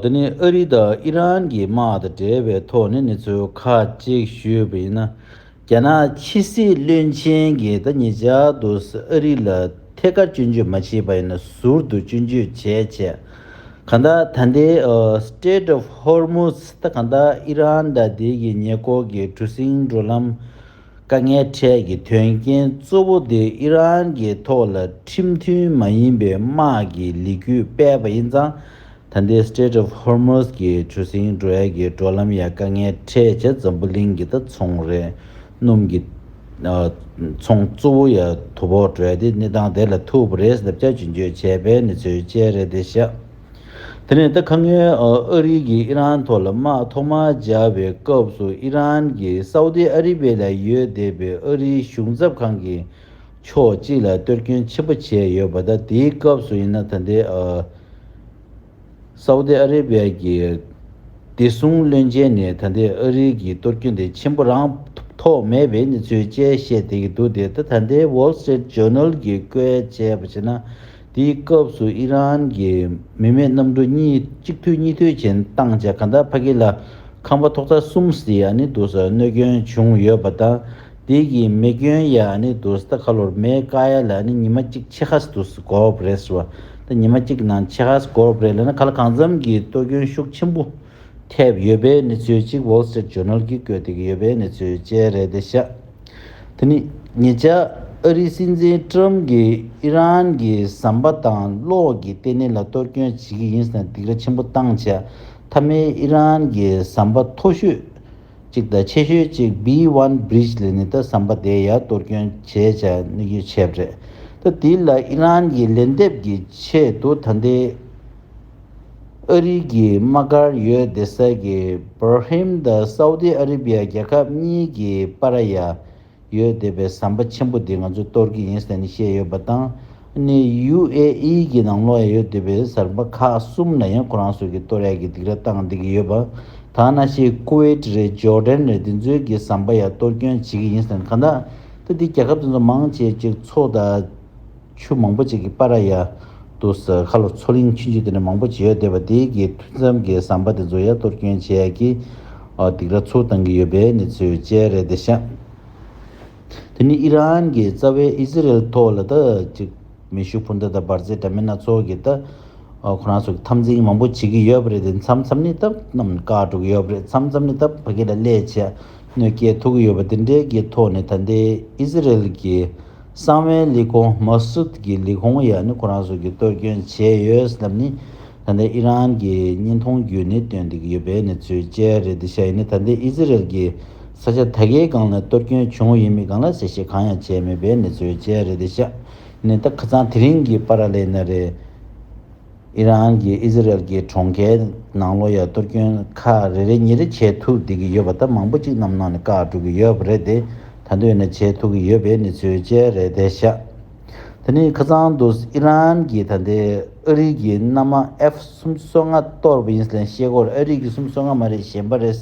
དེ་ནི་ཨ་རི་དང་ཨི་རན་གྱི་དམག་དང་འབྲེལ་བའི་ཐོག་ནས་གནས་ཚུལ་ཁ་གཅིག་ཞུས་པ་ཡིན་ན། རྒྱ་ནག་ཕྱི་སྲིད་བློན་ཆེན་གྱིས་ད་ངེད་ཅག་ཏུ་ཨ་རི་ལ་ཐད་ཀར་སྐྱོན་བརྗོད་མ་བྱས་པ་ཡིན་ན་ཟུར་དུ་སྐྱོན་བརྗོད་བྱས་བྱས། གང་ལྟར་ད་ལྟའི Strait of Hormuz ད་གང་ལྟར་ཨི་རན་དང་དེ་ཡི་ཉེ་འཁོར་གྱི་གྲུ་གཟིངས་འགྲོ་ལམ་དཀའ་ངལ་འཕྲད་ཀྱི་དོན་རྐྱེན་གཙོ་བོ་དེ་ཨི་རན་གྱི་ཐོག་ལ་ཁྲིམས་མཐུན་མ་ཡིན་པའི་དམག་གི་ལི་ཁུ་སྤེལ་བ་ཡིན་ཙང་ད་ལྟའི Strait of Hormuz གྱི་གྲུ་གཟིངས་འགྲོ་ཡ་གྱི་འགྲོ་ལམ་ཡ་དཀའ་ངལ་འཕྲད་བྱ་འཛམ་བུ་གླིང་གི་ད་ཚོང་རས་སྣུམ་གྱི་ཚོང་གཙོ་བོ་ཡ་དོ་བོག་བྲོས་ཏེ་གནས་སྟངས་དེ་ལ་ཐུག་པ་རེད་ཟེར་བྱ་ཇུས་འགྱོད་བྱས་པའི་གནས་ཚུལ་བཅས་རེད་དེ་བཞག། དེ་ནས་ད་ག་ངའི་ཨ་རི་གིས་ཨི་རན་ཐོག་ལ་དམག་ཐོག་མར་སྦྱར་བའི་སྐབས་སུ་ཨི་རན་གྱིས་སའུ་ཏི་ཨ་རི་བྷེ་ལ་ཡོད་བསྡད་པའི་ཨ་རིའི་གཞུང་ཚབ་ཁང་གི་ཕྱོགས་གཅིག་ལ་གཏོར་སྐྱོན་ཆེན་པོ་བྱས་ཡོད་པ་དང་དེའི་སྐབས་སུ་ཡིན་ན་ད་ལྟའི་སའུ་ཏི་ཨ་རི་བྷེ་གྱི་བདེ་སྲུང་བློན་ཆེན་ནས་ད་ལྟའི་ཨ་རི་གི་གཏོར་སྐྱོན་དེ་ཆེན་པོ་རང་ཐོག་མེད་པའི་གནས་ཚུལ་བཅས་བཤད་བསྡད་ཀྱི་འདུག་དེ་ལྟ་ད་ལྟའི Wall Street Journal གྱིས་བཀོད་བྱས་པ་བྱས་ན། དེའི་སྐབས་སུ་ཨི་རན་གྱི་མི་མེད་གནམ་གྲུ་གཉིས་གཅིག་མཐུད་གཉིས་མཐུད་བྱེད་སྟངས་བྱས་གྷན་དྷར་བྷ་གྷི་ལ་ཁང་པ་ཐོག་རྩ་གསུམ་སི་ཡ་ནི་དུ་ས་གནོད་སྐྱོན་བྱུང་ཡོད་པ་དང་དེའི་དགི་མེ་སྐྱོན་ཡ་ནི་དུ་ས་ཁ་ལོར་མེ་ཀ་ཡ་ལ་ནི་ཉི་མ་གཅིག་ཆེ་ཧ་སི་དུ་ས་གོར་བོ་རེ་སི་བ་དང་ཉི་མ་གཅིག་གི་ནང་ཆེ་ཧ་སི་གོར་བོ་རེ་ལ་ནི་ཁ་ལ་གང་འཚམ་གྱི་གཏོར་སྐྱོན་ཤུགས་ཆེན་པོ། ཐེབས་ཡོད་པའི་གནས་ཚུལ་གཅིག Wall Street Journal གྱིས་བཀོད་འདུག་ཡོད་པའི་གནས་ཚུལ་བཅས་རེད་དེ་ཤ་དེ་ནི་ཉེ་ཆར་ཨ་རིའི་སྲིད་འཛིན Trump གྱིས་ཨི་རན་གྱི་ཟམ་པ་དང་གློག་གི་ལྟེ་གནས་ལ་གཏོར་སྐྱོན་བྱེད་ཀྱི་ཡིན་ཟེར་ནས་སྡིགས་ར་ཆེན་པོ་བཏང་བྱས་མཐའ་མའི་ཨི་རན་གྱི་ཟམ་པ་མཐོ་ཤོས་གཅིག་དང་ཆེ་ཤོས་གཅིག B One Bridge ལས་ནི་ད་ཟམ་པ་དེ་ཡར་གཏོར་སྐྱོན་བྱས་བྱས་ནས་ཡོད་ཆེད་རེད། ད་དེ་ལ་ཨི་རན་གྱིས་ལན་འདེབས་ཀྱི་ཆེད་དུ་ད་ལྟའི། ཨ་རི་གྱི་དམག་སྒར་ཡོད་སྡེ་གསར་གྱི་བྷར་ཧེམ་དང་སའུ་ཏི་ཨ་རི་བྷི་ཡ་རྒྱལ་ཁབ་གཉིས་ཀྱི་པ་ར་ཡ་ཡོད་སྡེ་པའི་ཟམ་པ་ཆེན་པོ་འདི་ང་ཚོས་གཏོར་གྱི་ཡིན་ཟེར་ནས་བཤད་ཡོད་པ་དང་ནི་ཡུ་ཨེ་ཨི་གྱི་ནང་ལོགས་ཡ་ཡོད་སྡེ་པའི་ཟར་པ་ཁག་གསུམ་ལ་ཡང་ཁོ་རང་ཚོ་གིས་གཏོར་ཡ་གྱི་སྡིགས་ར་བཏང་སྡད་ཀྱི་ཡོད་པ་དང་ན་ཤེས Kuwait རེད་ཇོ་ལྡན་རེད་འདི་ཚོའི་གི་ཟམ་པ་ཡ་གཏོར་སྐྱོན་བྱེད་ཀྱི་ཡིན་ཟེར་ནས་གང་དག་ཏུ་འདི་རྒྱལ་ཁབ་དེ་ཚོ་མང་ཆེ་གཅིག་ཚོ་དང། ཆུ་མང་པོ་ཅིག་གིས་པཱ་ར་ཡ། དུ་ཟ་ཁ་ལོ་མཚོ་གླིང་ཆུ་འཇིག་རྟེན་ནི་མང་པོ་ཇི་ཡོད་བདེ་བ་འདི་གའི་ཐུན་མཚམས་ཀྱི་ཟམ་པ་དེ་ཚོ་ཡ་གཏོར་སྐྱོན་བྱས་ཡ་ཀྱི། སྡིག་ར་ཚུགས་བཏང་གི་ཡོད་པའི་གནས་ཚུལ་བཅས་རེད་དེ་ཤ། དེ་ནི་ཨི་རན་གྱི་རྩ་བའི་ཨི་ཟི་རེལ་ཐོག་ལ་ད་ཅིག་མེ་ཤུགས་འཕུར་མདའ་དང་འབར་རྫས་འདྲ་མིན་སྣ་ཚོགས་ཀྱིས་ད་ཁོ་རང་ཚོ་གི་འཐབ་འཛིང་མང་པོ་བྱེད་ཀྱི་ཡོད་པ་རེད་དེ་མཚམས་མཚམས་ནི་ད་རྣམས་བཀག་འགྲོ་གི་ཡོད་པ་རེད་མཚམས་མཚམས་ནི་ད་ཕ་གི་ལ་ལས་བྱས་གནོད་སྐྱེལ་ཐུབ་ཀྱི་ཡོད་པ་དེ་འབྲེལ་གྱི་ཐོག་ནས་ད་ལྟའི་ཨི་ཟི་རེལ་གྱི་གསང་བའི་ལི་ཀོང་མཱ་སུད་ཀྱི་ལི་ཀོང་ཡག་ནི་ཁོ་རང་ཚོ་གིས་གཏོར་སྐྱོན་བྱས་ཡོད་ཟེར་ལབ་ནི་ད་ལྟའི་ཨི་རན་གྱི་བརྙན་ཐུང་བརྒྱུད་ནས་སྟོན་བསྡད་ཀྱི་ཡོད་པའི་གནས་ཚུལ་བཅས་རེད་འདི་ཤ་ཡིན་ནི་ད་ལྟའི་ཨི་ཟི་རེལ་གྱི་ས་ཆ་ད་གའི་སྒང་ལ་གཏོར་སྐྱོན་བྱུང་བ་ཡིན་མིན་གང་ལ་ཤེས་ཤེས་གང་ཡང་བྱས་མེད་པའི་གནས་ཚུལ་བཅས་རེད་འདི་ཤ་ཡིན་ནི་ད་ཁ་ཚང་དེ་རིང་གི་པཱ་ར་ལེ་ན་རེད། ཨི་རན་གྱིས་ཨི་ཟི་རལ་གྱི་གྲོང་ཁྱེར་ནང་ལོ་ཡར་གཏོར་སྐྱོན་ཁ་རེ་རེ་གཉིས་རེ་བྱེད་ཐུབ་བསྡད་ཀྱི་ཡོད་པ་ལྟར་མང་པོ་གཅིག་རྣམས་ནང་ནས་བཀག་འགྲོ་གི་ཡོད་པ་རེད་དེ་ད་འདོད་ནས་བྱེད་ཐུབ་ཀྱི་ཡོད་པའི་གནས་ཚུལ་བཅས་རེད་དེ་ཤ་ད་ནི་ཁ་ཚང་འདུག་ཨི་རན་གྱིས་ད་ལྟའི་ཨ་རིག་གི་མནའ་མ F གསུམ་གསོ་ལྔ་གཏོར་བ་ཡིན་ཟེར་ལན་ཤེས་སྐོར་ཨ་རིག་གི་གསུམ་གསོ་ལྔ་མ་རེད་གཞན་པ་རེད་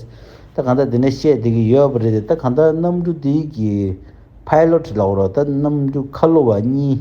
ད་གང་ལྟར་དེ་འདྲ་བཤད་བསྡད་ཀྱི་ཡོད་པ་རེད་དེ་ད་གང་ལྟར་གནམ་གྲུ་དེའི་གི Pilot ལགས་རོགས་ད་གནམ་གྲུ་ཁ་ལོ་བ་གཉིས་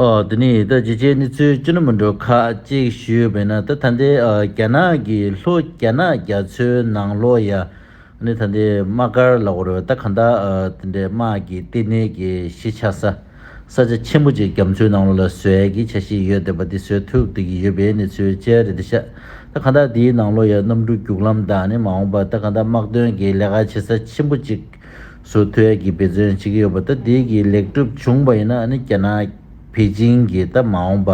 ཨོ་དེ་ནས་ད་བརྗེད་བྱའི་གནས་ཚུལ་ཅི་ནུ་མི་འགྲོ་ཁ་གཅིག་ཞུས་པས་ན་ད་ད་འདི་རྒྱ་ནག་གི་ལྷོ་རྒྱ་ནག་རྒྱ་མཚོའི་ནང་ལོ་ཡ་ནི་ད་འདི་དམག་སྒར་ལ་བོར་བས་ད་གང་དག་དེ་འདྲའི་དམག་གི་ལྟེ་གནས་ཀྱི་གཞི་ཆགས་ས་ས་ཆ་ཆེན་པོ་ཅིག་རྒྱ་མཚོའི་ནང་ལོ་ལ་བཟོས་ཀྱི་ཆ་ཞིག་ཡོད་འདོད་པ་འདི་བཟོས་ཐུབ་བསྡད་ཀྱི་ཡོད་པའི་གནས་ཚུལ་བཅལ་རེ་འདི་ཤ་ད་གང་དག་འདིའི་ནང་ལོ་ཡ་གནམ་གྲུ་རྒྱུག་ལམ་དག་ནི་མ་འོངས་པ་ད་གང་དག་དམག་དོན་གྱི་ལས་ཀ་བྱེད་ས་ཆེན་པོ་ཅིག་སུ་ཐུ་ཡ་གི་འབད་བརྩོན་བྱེད་ཀྱི་ཡོད་པ་དང་དེའི་གི་ལེགས་གྲུབ་བྱུང་བ་ཡིན་ན་ནི་རྒྱ་ནག་པེ་ཅིང་གི་ད་མ་འོངས་པ་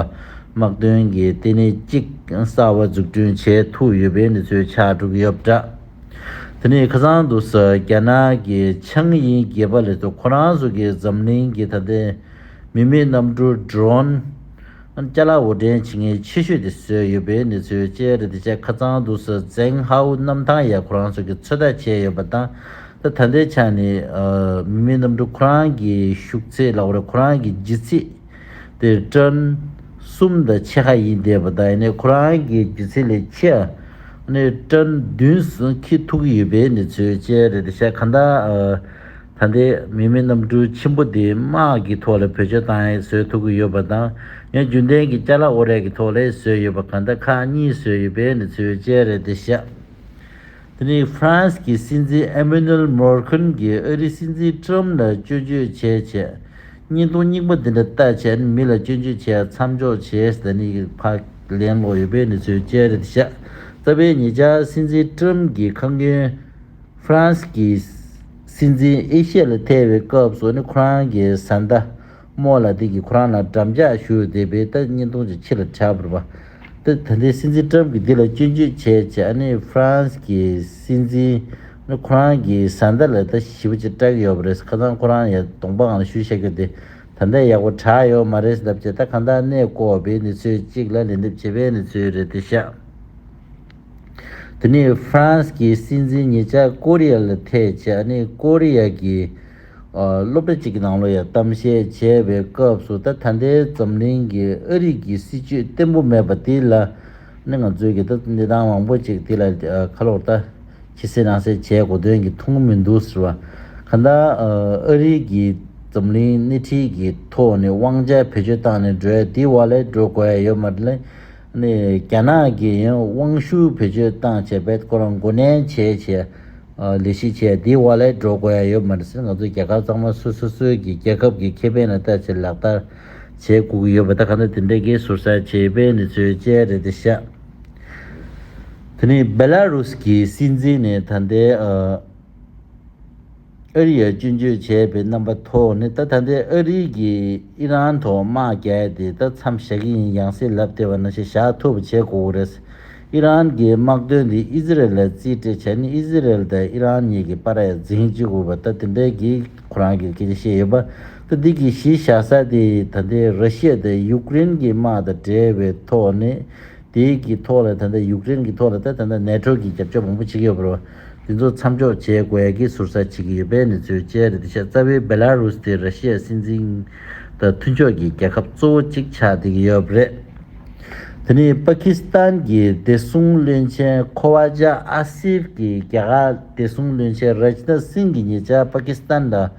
དམག་དོན་གྱི་ལྟེ་གནས་གཅིག་གསར་བ་འཛུགས་སྐྲུན་བྱས་ཐུབ་ཡོད་པའི་འདི་ཚོའི་ཕྱག་དྲུག་ཡོད་པ་འདྲ། དེ་ནས་ཁ་སང་དུ་ས་རྒྱ་ནག་གི་ཆང་ཡིན་རྒྱལ་པ་ལས་ཐོག་ཁོ་རང་ཚོ་གི་འཛམ་གླིང་གི་ད་ལྟའི་མི་མེད་གནམ་གྲུ Drone། ཏཱ་ལ་འོར་འདྲེན་བྱེད་མཁན་ཆེ་ཤོས་དེ་བཟོས་ཡོད་པའི་གནས་ཚུལ་བཅས་རེད་དེ་ཆེས་ཁ་ཚང་དུ་སི་ཙེང་ཧའོ་གནམ་ཐང་ཡ་ཁོ་རང་ཚོ་གིས་ཚོད་ལྟ་བྱས་ཡོད་པ་དང། ད་ལྟའི་ཆ་ནས་མི་མེད་གནམ་གྲུ་ཁོ་རང་གི་ཞུགས་ཚད་ལ་འོར་ཁོ་རང་གི་ལྗིད་ཚད་དེ་ཏུན་གསུམ་དང་ཕྱེད་ཀ་ཡིན་བསྡད་པ་དང་ཡིན་ནའི་ཁོ་རང་གི་ལྗིད་ཚད་ལས་ཆེ་ནི་ཏུན་བདུན་ཁེ་ཐུག་གི་ཡོད་པའི་གནས་ཚུལ་བཅས་རེད་དེ་ཆེས་ག་འདྲ་ད་ལྟའི་མི་མི་རྣམས་སྤྲུལ་ཆེན་པོ་དེའི་དམག་གི་ཐོག་ལ་བོད་ཆོས་དང་ལྷའི་སྲོལ་ཐུག་གི་ཡོད་པ་དང་ཡང་རྒྱུན་ལྡན་གྱི་སྐྱ་ལྷ་ཨོ་རད་ཀྱི་ཐོག་ལྷའི་སྲོལ་ཡོད་པ་གང་དག་ཁག་གཉིས་སྲོལ་ཡོད་པའི་ནི་ཚུལ་དཔྱད་རེད་དེ་བཤད། དེ་ནི་ཧྥ་རན་སི་གི་སྲིད་འཛིན་ཨེ་མེ་ནུལ་མོ་ཁུན་གྱིས་ཨ་རིའི་སྲིད་འཛིན་ཀྲུམ་ལ་སྐྱོན་བརྗོད་བྱས་ཆེད་བརྙན་ཐུང་རྙིང་པ་འདི་འདྲ་ལྟ་ཆེད་མི་ལ་སྐྱོན་བརྗོད་བྱས་མཚམས་འཇོག་བྱས་ཟེར་ནི་ཕག་ལེན་ལོག་ཡོད་པའི་ནི་ཚུལ་དཔྱད་རེད་དེ་བཤད། རྩ་བའི་ངེད་ཅག་སྲིད་འཛིན་ཀྲུམ་གྱི་ཁ་མགོན། ཧྥ་རན་སི་ཀྱི་སྲིད་འཛིན་ཨེ་ཤེ་ལ་ཐེ་བའི་སྐབས་སུ་ནི་ཁོ་རང་གི་བཟའ་ཟླ་མོ་ལ་ཏི་གིས་ཁོ་རང་ལ་འགྲམ་ལྕག་གཞུ་བསྡད་པའི་ཏི་གཉིས་སྟོང་ཅིག་ཕྱི་ལ་འཕྱར་བར་བ་ཏི་ད་ལྟའི་སྲིད་འཛིན་ཏྲམ་གྱིས་འདི་ལ་སྐྱོན་བརྗོད་བྱས་ཀྱི་ཨ་ནི་ཧྥ་རན་སི་ཀྱི་སྲིད་འཛིན་ནི་ཁོ་རང་གི་བཟའ་ཟླ་ལ་ད་ཞི་བ་ཅིག་སྤྲད་གི་ཡོད་པ་རེད་ཁ་སང་ཁོ་རང་ཡ་གདོང་པའང་ལ་ཞུ་ཤེས་ཀྱི་དེ་ད་ལྟ་ཡག་པོ་གྲགས་ཡོད་མ་རེད་ཟེར་ལབ་ཀྱི་ད་གང་ལྟར་གནས་སྐོར་བའི་གནས་ཚུལ་གཅིག་ལ་ལན་འདེབས་བྱས་པའི་གནས་ཚུལ་རེད་དེ་ཤག། དེ་ནི་ཧྥ་རན་སི་གི་སྲིད་འཛིན་ཉིད་ཅག་ཀོ་རི་ཡ་ལ་ཐེ་བྱེད་ཨ་ནི་ཀོ་རི་ཡ་གི་སློབ་གྲྭ་གཅིག་གི་ནང་ལོ་ཡ་གཏམ་བཤད་བྱས་པའི་སྐབས་སུ་ད་ད་ལྟའི་འཛམ་གླིང་གི་ཨ་རིག་གི་སྲིད་ཇུས་བརྟན་པོ་མེད་པ་དེ་ལ་ནི་ང་ཚོས་གི་ད་གནས་སྟངས་མང་པོ་ཅིག་དེ་ལ་ཁ་ལོག་ལྟ་ཁྱི་སེ་རང་སེ་བྱས་གོ་དོན་གི་མཐོང་མི་འདུག་ཟེར་བ་ག་ད་ཨ་རིག་གི་འཛམ་གླིང་སྣེ་ཁྲིད་གི་ཐོག་ནས་དབང་ཆ་བེད་སྤྱོད་བཏང་ནས་འགྲོས་དེ་བ་ལས་འགྲོ་དགོས་ཡོད་མ་རེད་ལ། རྒྱ་ནག་གི་དབང་ཤུགས་བེད་སྤྱོད་བཏང་བྱས་པའི་སྐོར་མགོ་ནན་བྱས་རྗེས། ལི་ཞི་ཆེ་འདི་བ་ལས་འགྲོ་དགོས་ཡ་ཡོད་མ་རེད་ཟེར་ང་ཚོ་རྒྱལ་ཁབ་གཙང་མ་སུ་སོ་སོའི་གི་རྒྱལ་ཁབ་གི་ཁེ་ཕན་ལ་ལྟ་བྱེད་ལག་བསྟར་བྱེད་དགོས་ཀྱི་ཡོད་པ་ད་ག་ནད་དེ་འདྲའི་གི་ཟུར་ཟ་བྱེད་པའི་ནི་ཚོའི་དཔྱད་རེད་དེ་ཤ་དེ་ནི་བེ་ལ་རུ་སི་གི་སྲིད་འཛིན་ནི་ད་ལྟའི་ཨ། ཨ་རི་ཡར་སྐྱོན་བརྗོད་བྱས་པའི་རྣམ་པ་ཐོག་ནས་ད་ད་འདི་ཨ་རི་གིས་ཨི་རན་ཐོག་དམག་བརྒྱད་དེ་ད་མཚམས་བཞག་གི་ཡིན་ཡང་སྲིད་ལབ་ལྟེ་བ་ན་ཞེ་བཞག་ཐུབ་པ་བྱེད་དགོས་རེད། ཨི་རན་གྱི་དམག་དོན་དེ་ཨི་ཟི་རལ་ལ་རྩིས་སྤྲད་བྱས་ནས་ཨི་ཟི་རལ་དང་ཨི་རན་གཉིས་ཀྱི་པར་ཡར་འཛིང་བྱེད་དགོས་པ་ད་དེ་འདྲའི་གི་ཁོ་རང་གིས་སྐད་ཆ་བཤད་ཡོད་པ་ད་འདི་གི་གཞི་བཞག་ས་དེ་ད་འདི་ར་ཤི་ཡ་དང་ཡུག་རེན་གྱི་དམག་དང་འབྲེལ་བའི་ཐོག་ནས་དེའི་གི་ཐོག་ལ་ད་འདི་ཡུག་རེན་གྱི་ཐོག་ལ་ད་ད་འདི་ནེ་ཐྲོ་གྱི་རྒྱབ་སྐྱོར་མང་པོ་བྱེད་ཀྱི་ཡོད་པ་རེད། འདི་ཚོ་མཚམས་འཇོག་བྱེད་དགོས་ཀྱི་ཟུར་ཟ་བྱེད་ཀྱི་ཡོད་པའི་གནས་ཚུལ་བཅས་རེད་འདི་ཤ་ཚ་བའི་བེ་ལཱ་རུ་སི་དེ་ར་ཤི་ཡའི་སྲིད་འཛིན་དང་མཐུན་ཕྱོགས་ཀྱི་རྒྱལ་ཁབ་གཙོ་བོ་གཅིག་ཆགས་བསྡད་ཀྱི་ཡོད་རེད། དེ་ནི་པཱ་ཁི་སི་ཐན་གྱི་བདེ་སྲུང་བློན་ཆེན་ཁོ་བྷ་ཇ་ཨ་སིབ་ཀྱིས་རྒྱ་གར་བདེ་སྲུང་བློན་ཆེན་རཱཇ་ནཱ་སིང་གི་ཉེ་ཆར་པཱ་ཁི་སི་ཐན་ལ་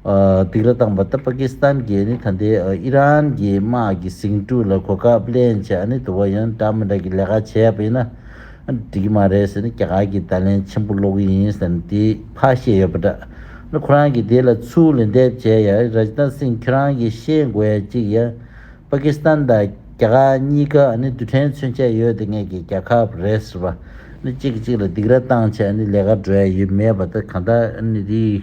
སྡིགས་ལ་བཏང་བ་ལྟར་པ་ཀི་སི་ཐན་གྱིས་ནི་ད་ལྟའི་ཨི་རན་གྱི་དམག་གི་ཟིང་འཁྲུག་ལ་གོ་སྐབས་ལེན་ཆེད་ནི་དུ་བ་ཡོན་ཀྲང་མི་དྲག་གི་ལས་ཀ་བྱས་པ་ཡིན་ན་འགྲིག་གི་མ་རེད་ཟེར་ནས་རྒྱ་གར་གྱི་བརྡ་ལན་ཆེན་པོ་སློག་གི་ཡིན་ཟེར་ནས་དེ་ཕར་བཤད་ཡོད་པ་འདྲ། ཁོ་རང་གིས་དེ་ལ་ཚུར་ལན་འདེབས་བྱས་ཡ་ཨི་ར་ཏན་སིང་ཁྱོད་རང་གིས་ཤེས་དགོས་ཡ་གཅིག་ཡ། པ་ཀི་སི་ཐན་དང་རྒྱ་གར་གཉིས་ཀ་ནི་རྡུལ་ཕྲན་མཚོན་ཆ་ཡོད་དེ་ངེད་ཀྱི་རྒྱལ་ཁབ་རེད་ཟེར་བ་ནི་གཅིག་གིས་གཅིག་ལ་སྡིགས་ར་བཏང་ཆེད་ནི་ལས་ཀ་འགྲོ་ཡ་ཡོད་མེད་པ་ད་ག་འདྲ་ཨི་ར་ནི་དེའི་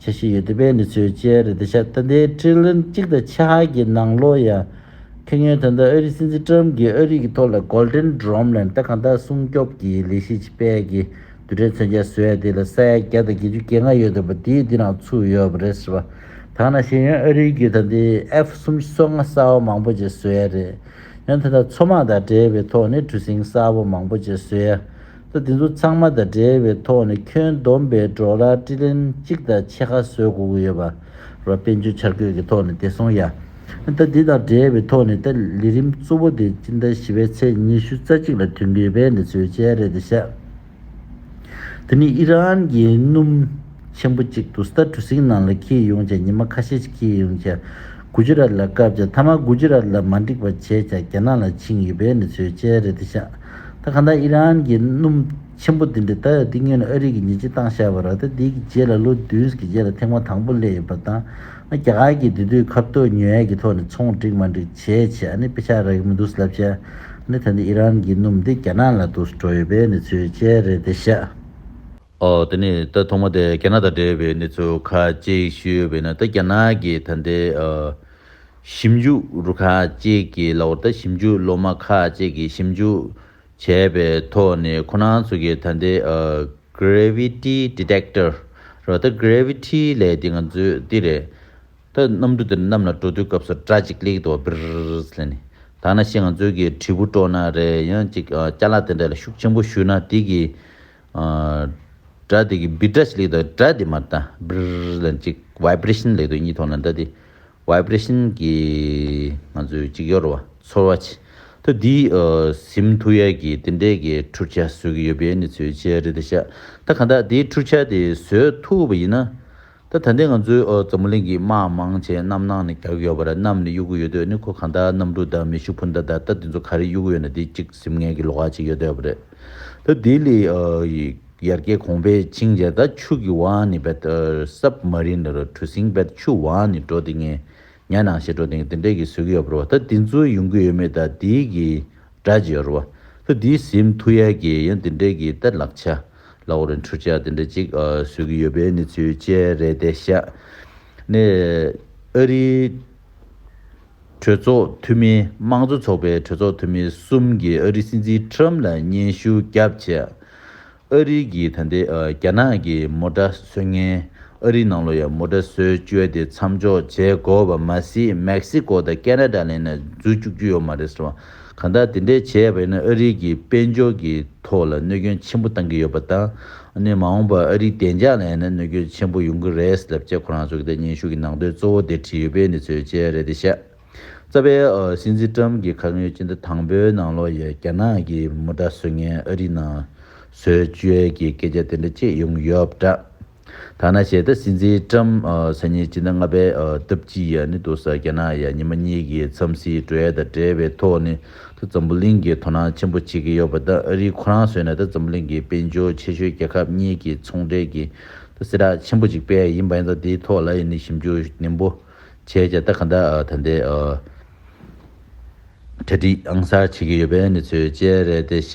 བྱ་བཞིན་ཡོད་དེ་པའི་མི་ཚོའི་སྤྱན་རས་བདེ་ཆ་ད་ལྟའི་ཁྲི་ལོ་གཅིག་དང་ཕྱེད་ཧ་གྱི་ནང་ལོ་ཡ། ཁེ་ཉོན་ད་ལྟ་ཨ་རིའི་སྲིད་འཛིན་ཀྲམ་གྱིས་ཨ་རིག་གི་ཐོག་ལ Golden Drum ལན་རྟ་གང་དག་སྲུང་སྐྱོབ་ཀྱི་ལས་གཞི་ཆེ་དཔལ་གྱི་དུད་དྲེག་མཚོན་ཆ་བཟོས་དེ་ལ་ས་ཡ་བརྒྱ་དང་བརྒྱད་ཅུ་གྱེས་ང་ཡོད་དོ་པ་དེའི་འདི་ནང་ཚུགས་ཡོད་པ་རེད་ཟེར་བ་དག་ན་ཤེས་ཡོན་ཨ་རིའི་གྱི་ད་ལྟའི F གསུམ་གསོ་ང་གསར་བ་མང་པོ་ཆེ་བཟོས་ཡ་རེད་ཡོན་ད་ལྟ་མཚོ་དམག་དང་འབྲེལ་བའི་ཐོག་ནས་གྲུ་གཟིངས་གསར་བ་མང་པོ་ཆེ་བཟོས་ཡ་ཚོ་དེ་ཚོ་ཚང་མ་དང་འབྲེལ་བའི་ཐོག་ནས་ཁྱོན་བསྡོམས་པའི་སྒྲོག་ལ་དཀྲི་ལན་གཅིག་དང་ཕྱེད་ཀ་བཟོས་དགོས་ཀྱི་ཡོད་པ་རོ། དཔལ་འབྱོར་འཆར་འགོད་ཀྱི་ཐོག་ནས་བདེ་སྲུང་ཡ། ད་དེ་དང་འབྲེལ་བའི་ཐོག་ནས་ད་ལི་རིམ་གཙོ་བོ་དེ་སྤྱི་ཟླ་བཞི་བའི་ཚེས་ཉི་ཤུ་རྩ་གཅིག་ལ་དུས་འགོའི་བའི་འདི་ཚོའི་བཅད་རེད་དེ་ཤ། དེ་ནི་ཨི་རན་གྱི་སྣུམ་ཆེན་པོ་གཅིག་དུ་སྟར་གྲུ་གཟིངས་ནང་ལ་འཁྱིལ་ཡོང་བྱ་ཉི་མ་ཁ་ཤས་ཤིག་འཁྱིལ་ཡོང་བྱ་གུ་ཇི་རཱཏ་ལ་བཀབ་བྱ་མཐའ་མ་གུ་ཇི་རཱཏ་ལ་མ་འགྲིག་པ་བྱས་བྱ་རྒྱ་ནག་ལ་འཆིང་ཡོད་བའི་འདི་ཚོའི་བཅད་རེད་དེ་ཤ། ད་ག་འདའ་ཨི་རན་གྱི་སྣུམ་ཆེན་པོ་འདི་འདྲའི་ད་ཡོད་ཏིག་ངེས་ནས་ཨ་རིག་གི་ཉི་ཆི་བཏང་ཤག་པ་ར་ད་འདི་གི་རྗེས་ལ་ལོ་བདུན་གི་རྗེས་ལ་ཐེངས་མ་དང་པོ་སླེ་ཡོད་པ་དང་ཨ་རྒྱ་ག་གི་འདི་དུས་ཁབ་ཏོ་ཉོ་ཡས་གི་ཐོག་ནས་ཚོང་སྒྲིག་མ་འགྲིག་བྱས་བྱས་ཨ་ནི་དཔེ་ཆ་རག་གི་མི་འདུག་སླབ་བྱས་ཨ་ནི་ད་འདི་ཨི་རན་གྱི་སྣུམ་འདི་རྒྱ་ནག་ལ་དུ་འགྲོ་ཡོད་པའི་ནི་ཚུལ་བཅས་རེད་དེ་ཤག། ཨོ། དེ་ནས་ད་ཐོག་མ་དེ་རྒྱ་ནག་དང་འབྲེལ་བའི་གནས་ཚུལ་ཁ་ཅིག་ཞུས་པས་ན་ད་རྒྱ་ནག་གི་ད་ལྟའི་ཞིབ་འཇུག་རུ་ཁག་ཅིག་གི་ལག་འོག་ད་ཞིབ་འཇུག་སློབ་མ་ཁག་ཅིག་གིས་ཞིབ་འཇུག་བྱས་པའི་ཐོག་ནས་ཁོ་རང་ཚོ་གི་ད་ལྟའི Gravity Detector རེད་བ་ད Gravity ལས་དེ་ང་ཚོས་འདི་རེད་ད་གནམ་གྲུ་དེར་གནམ་ལ་འགྲོ་དུས་སྐབས་སུ་སྒྲ་ཅིག་ལེགས་འདུག་བ་བིརིིརིརིར་ལ་ཞིག་ང་ཚོའི་གྲུ་བོ་བྲོ་ན་རེད་ཡང་ཅིག་ལྕགས་ལ་དེ་འདྲ་ལ་ཤུགས་ཆེན་པོ་ཞུས་ན་དེ་ཡང་ཅིག་ཀྱིས། སྒྲ་དེ་གི་བི་བྲ་ཅིག་ལེགས་དང་སྒྲ་དེ་མ་ཏཱ་བིར་ལ་གཅིག Vibration ལེགས་དུ་གཉིས་ཐོག་ན་ད་དེ Vibration གི་ང་ཚོའི་གཅིག་ཡོར་བ་ཚོར་བ་ཅིག་ཐོ་དེ་སིམ་ཐུ་ཡ་གི་དེ་འདྲས་གི་འཁྲུར་ཆ་བཟོས་གི་ཡོད་པའི་ནི་ཚོའི་ཆེ་རེད་ད་ཤ་ད་གང་དག་དེའི་འཁྲུར་ཆ་དེ་བཟོས་ཐུ་བ་ཡིན་ན། ད་ད་ལྟའི་ང་ཚོའི་འཛམ་བུ་གླིང་གི་དམག་དམངས་ཅན་རྣམ་སྣང་ནས་རྒྱག་གི་ཡོད་པ་ར་གནམ་ནས་གཡུག་གི་ཡོད་དུས་ནི་ཁོ་གང་ལྟར་གནམ་གྲུ་དང་མེ་ཤུགས་འཕུར་མདའ་དར་རྟ་དེ་ཚོ་ག་རེ་གཡུག་གི་ཡོད་ན་དེ་གཅིག་གཟིམ་ངན་གྱི་ལོག་ཁ་ཅིག་ཡོད་སྡད་པ་རེད། ད་ལྡི་ལི་ཡར་རྒྱས་གོང་པེ་ཅིང་ཡར་ད་ཆུ་གི་བང་ནས་བད་སབ་མ་རིན་ལར་གྲུ་གཟིངས་བད་ཆུ་བང་ནས་འགྲོ་དེ་ངན་ཉལ་ནང་ཞེས་འགྲོ་དེ་ངན་དེ་འདྲས་གི་བཟོས་གི་ཡོད་པ་ར་བ་ད་དེ་ཚོ་ཡོང་གི་ཡོད་མེད་ད་ལྡི་གི་སྒྲ་ཅིག་ཡོད་ར་བ་ད་ལྡི་གཟིམ་ཐུ་ཡར་རྒྱས་ཡང་དེ་འདྲས་གི་ད་ལག་ཆ་ལ་འོ་རེ་འཕྲུལ་ཆ་དེ་འདྲ་ཅིག་བཟོས་ཀྱི་ཡོད་པའི་གནས་ཚུལ་བཅས་རེད་དེ། ཤ་ནེ་ཨ་རིའི་གྲོས་ཚོགས་འཐུས་མི་དམངས་གཙོ་ཚོགས་པའི་གྲོས་ཚོགས་འཐུས་མི་གསུམ་གྱིས་ཨ་རིའི་སྲིད་འཛིན་ཁྲི་རམ་ལ་སྙན་ཞུ་བརྒྱབ་ཆེད། ཨ་རིའི་གིས་ད་ལྟའི་རྒྱ་ནག་གི་མོ་ཏྲ་སོལ་ངན་ཨ་རིའི་ནང་ལོ་ཡར་མོ་ཏྲ་སོལ་བཅོལ་དེ་མཚམས་འཇོག་བྱས་དགོས་པ་མ་ཟད་མེག་སི་ཀོ་དང་ཀེ་ན་ཏྲ་ལས་ནས་འཛུལ་བཅུག་རྒྱུ་ཡོད་མ་རེད་ཟེར་བ། གང་ལྟར་དེ་འདྲའི་བྱེད་ཡས་པ་ཡིན་ན་ཨ་རིག་གི་དཔལ་འབྱོར་གི་ཐོག་ལ་གནོད་སྐྱོན་ཆེན་པོ་བཏང་གི་ཡོད་པ་དང་ནི་མ་འོངས་པར་ཨ་རིག་བདེ་འཇགས་ལ་ཡང་ན་གནོད་སྐྱོན་ཆེན་པོ་ཡོང་གི་རེད་ལབ་ཅེས་ཁོ་རང་ཚོ་གི་ཐད་སྙན་ཞུ་གི་ནང་དོན་གཙོ་བོ་དེ་བྲིས་ཡོད་པའི་འདི་ཚོའི་དཔྱད་རེད་དེ་བཤད། རྩ་བའི་སྲིད་འཛིན་ཀྲམ་གྱི་ཁ་ངོས་སྤྱི་ཟླ་དང་པོའི་ནང་ལོ་ཡས་རྒྱ་ནག་གི་མུ་དྲ་བཟོས་ངན་ཨ་རིག་ནང་བཟོས་བཅོས་ཀྱི་སྐད་ཆ་དེ་འདྲ་ཅིག་ཡོང་ཡོད་འདྲ། ཐ་ན་བྱས་ད་སྲིད་འཛིན་ཀྲམ་ས་ཉིད་སྤྱི་ཟླ་ལྔ་པའི་སྟབས་གཅིག་ཡ་ནི་དུ་ས་རྒྱ་ནག་ཡ་ཉི་མ་གཉིས་ཀྱི་འཚམས་སྲིད་འགྲོ་ཡ་དང་འབྲེལ་བའི་ཐོག་ནི་དུ་འཛམ་བུ་གླིང་གི་དོ་སྣང་ཆེན་པོ་བྱེད་ཀྱི་ཡོད་པ་དང་ཨ་རིའི་ཁོ་རང་བཟོས་ནས་དུ་འཛམ་བུ་གླིང་གི་དཔལ་འབྱོར་ཆེ་ཤོས་རྒྱལ་ཁབ་གཉིས་ཀྱི་ཚོང་འབྲེལ་གྱི་དུ་སྲིད་རགས་ཆེན་པོ་གཅིག་པས་ཡིན་པ་ཡིན་ད་དེའི་ཐོག་ལ་ཡ་ནི་ཞིབ་འཇུག་ནན་པོ་ཁྱེད་ཀྱིས་ད་ག་འདྲ་ད་འདྲའི་གྲ་སྒྲིག་ཨང་གསར་བྱེད་ཀྱི་ཡོད་པའི་གནས་ཚུལ་བཅས་རེད་དེ་ཤ་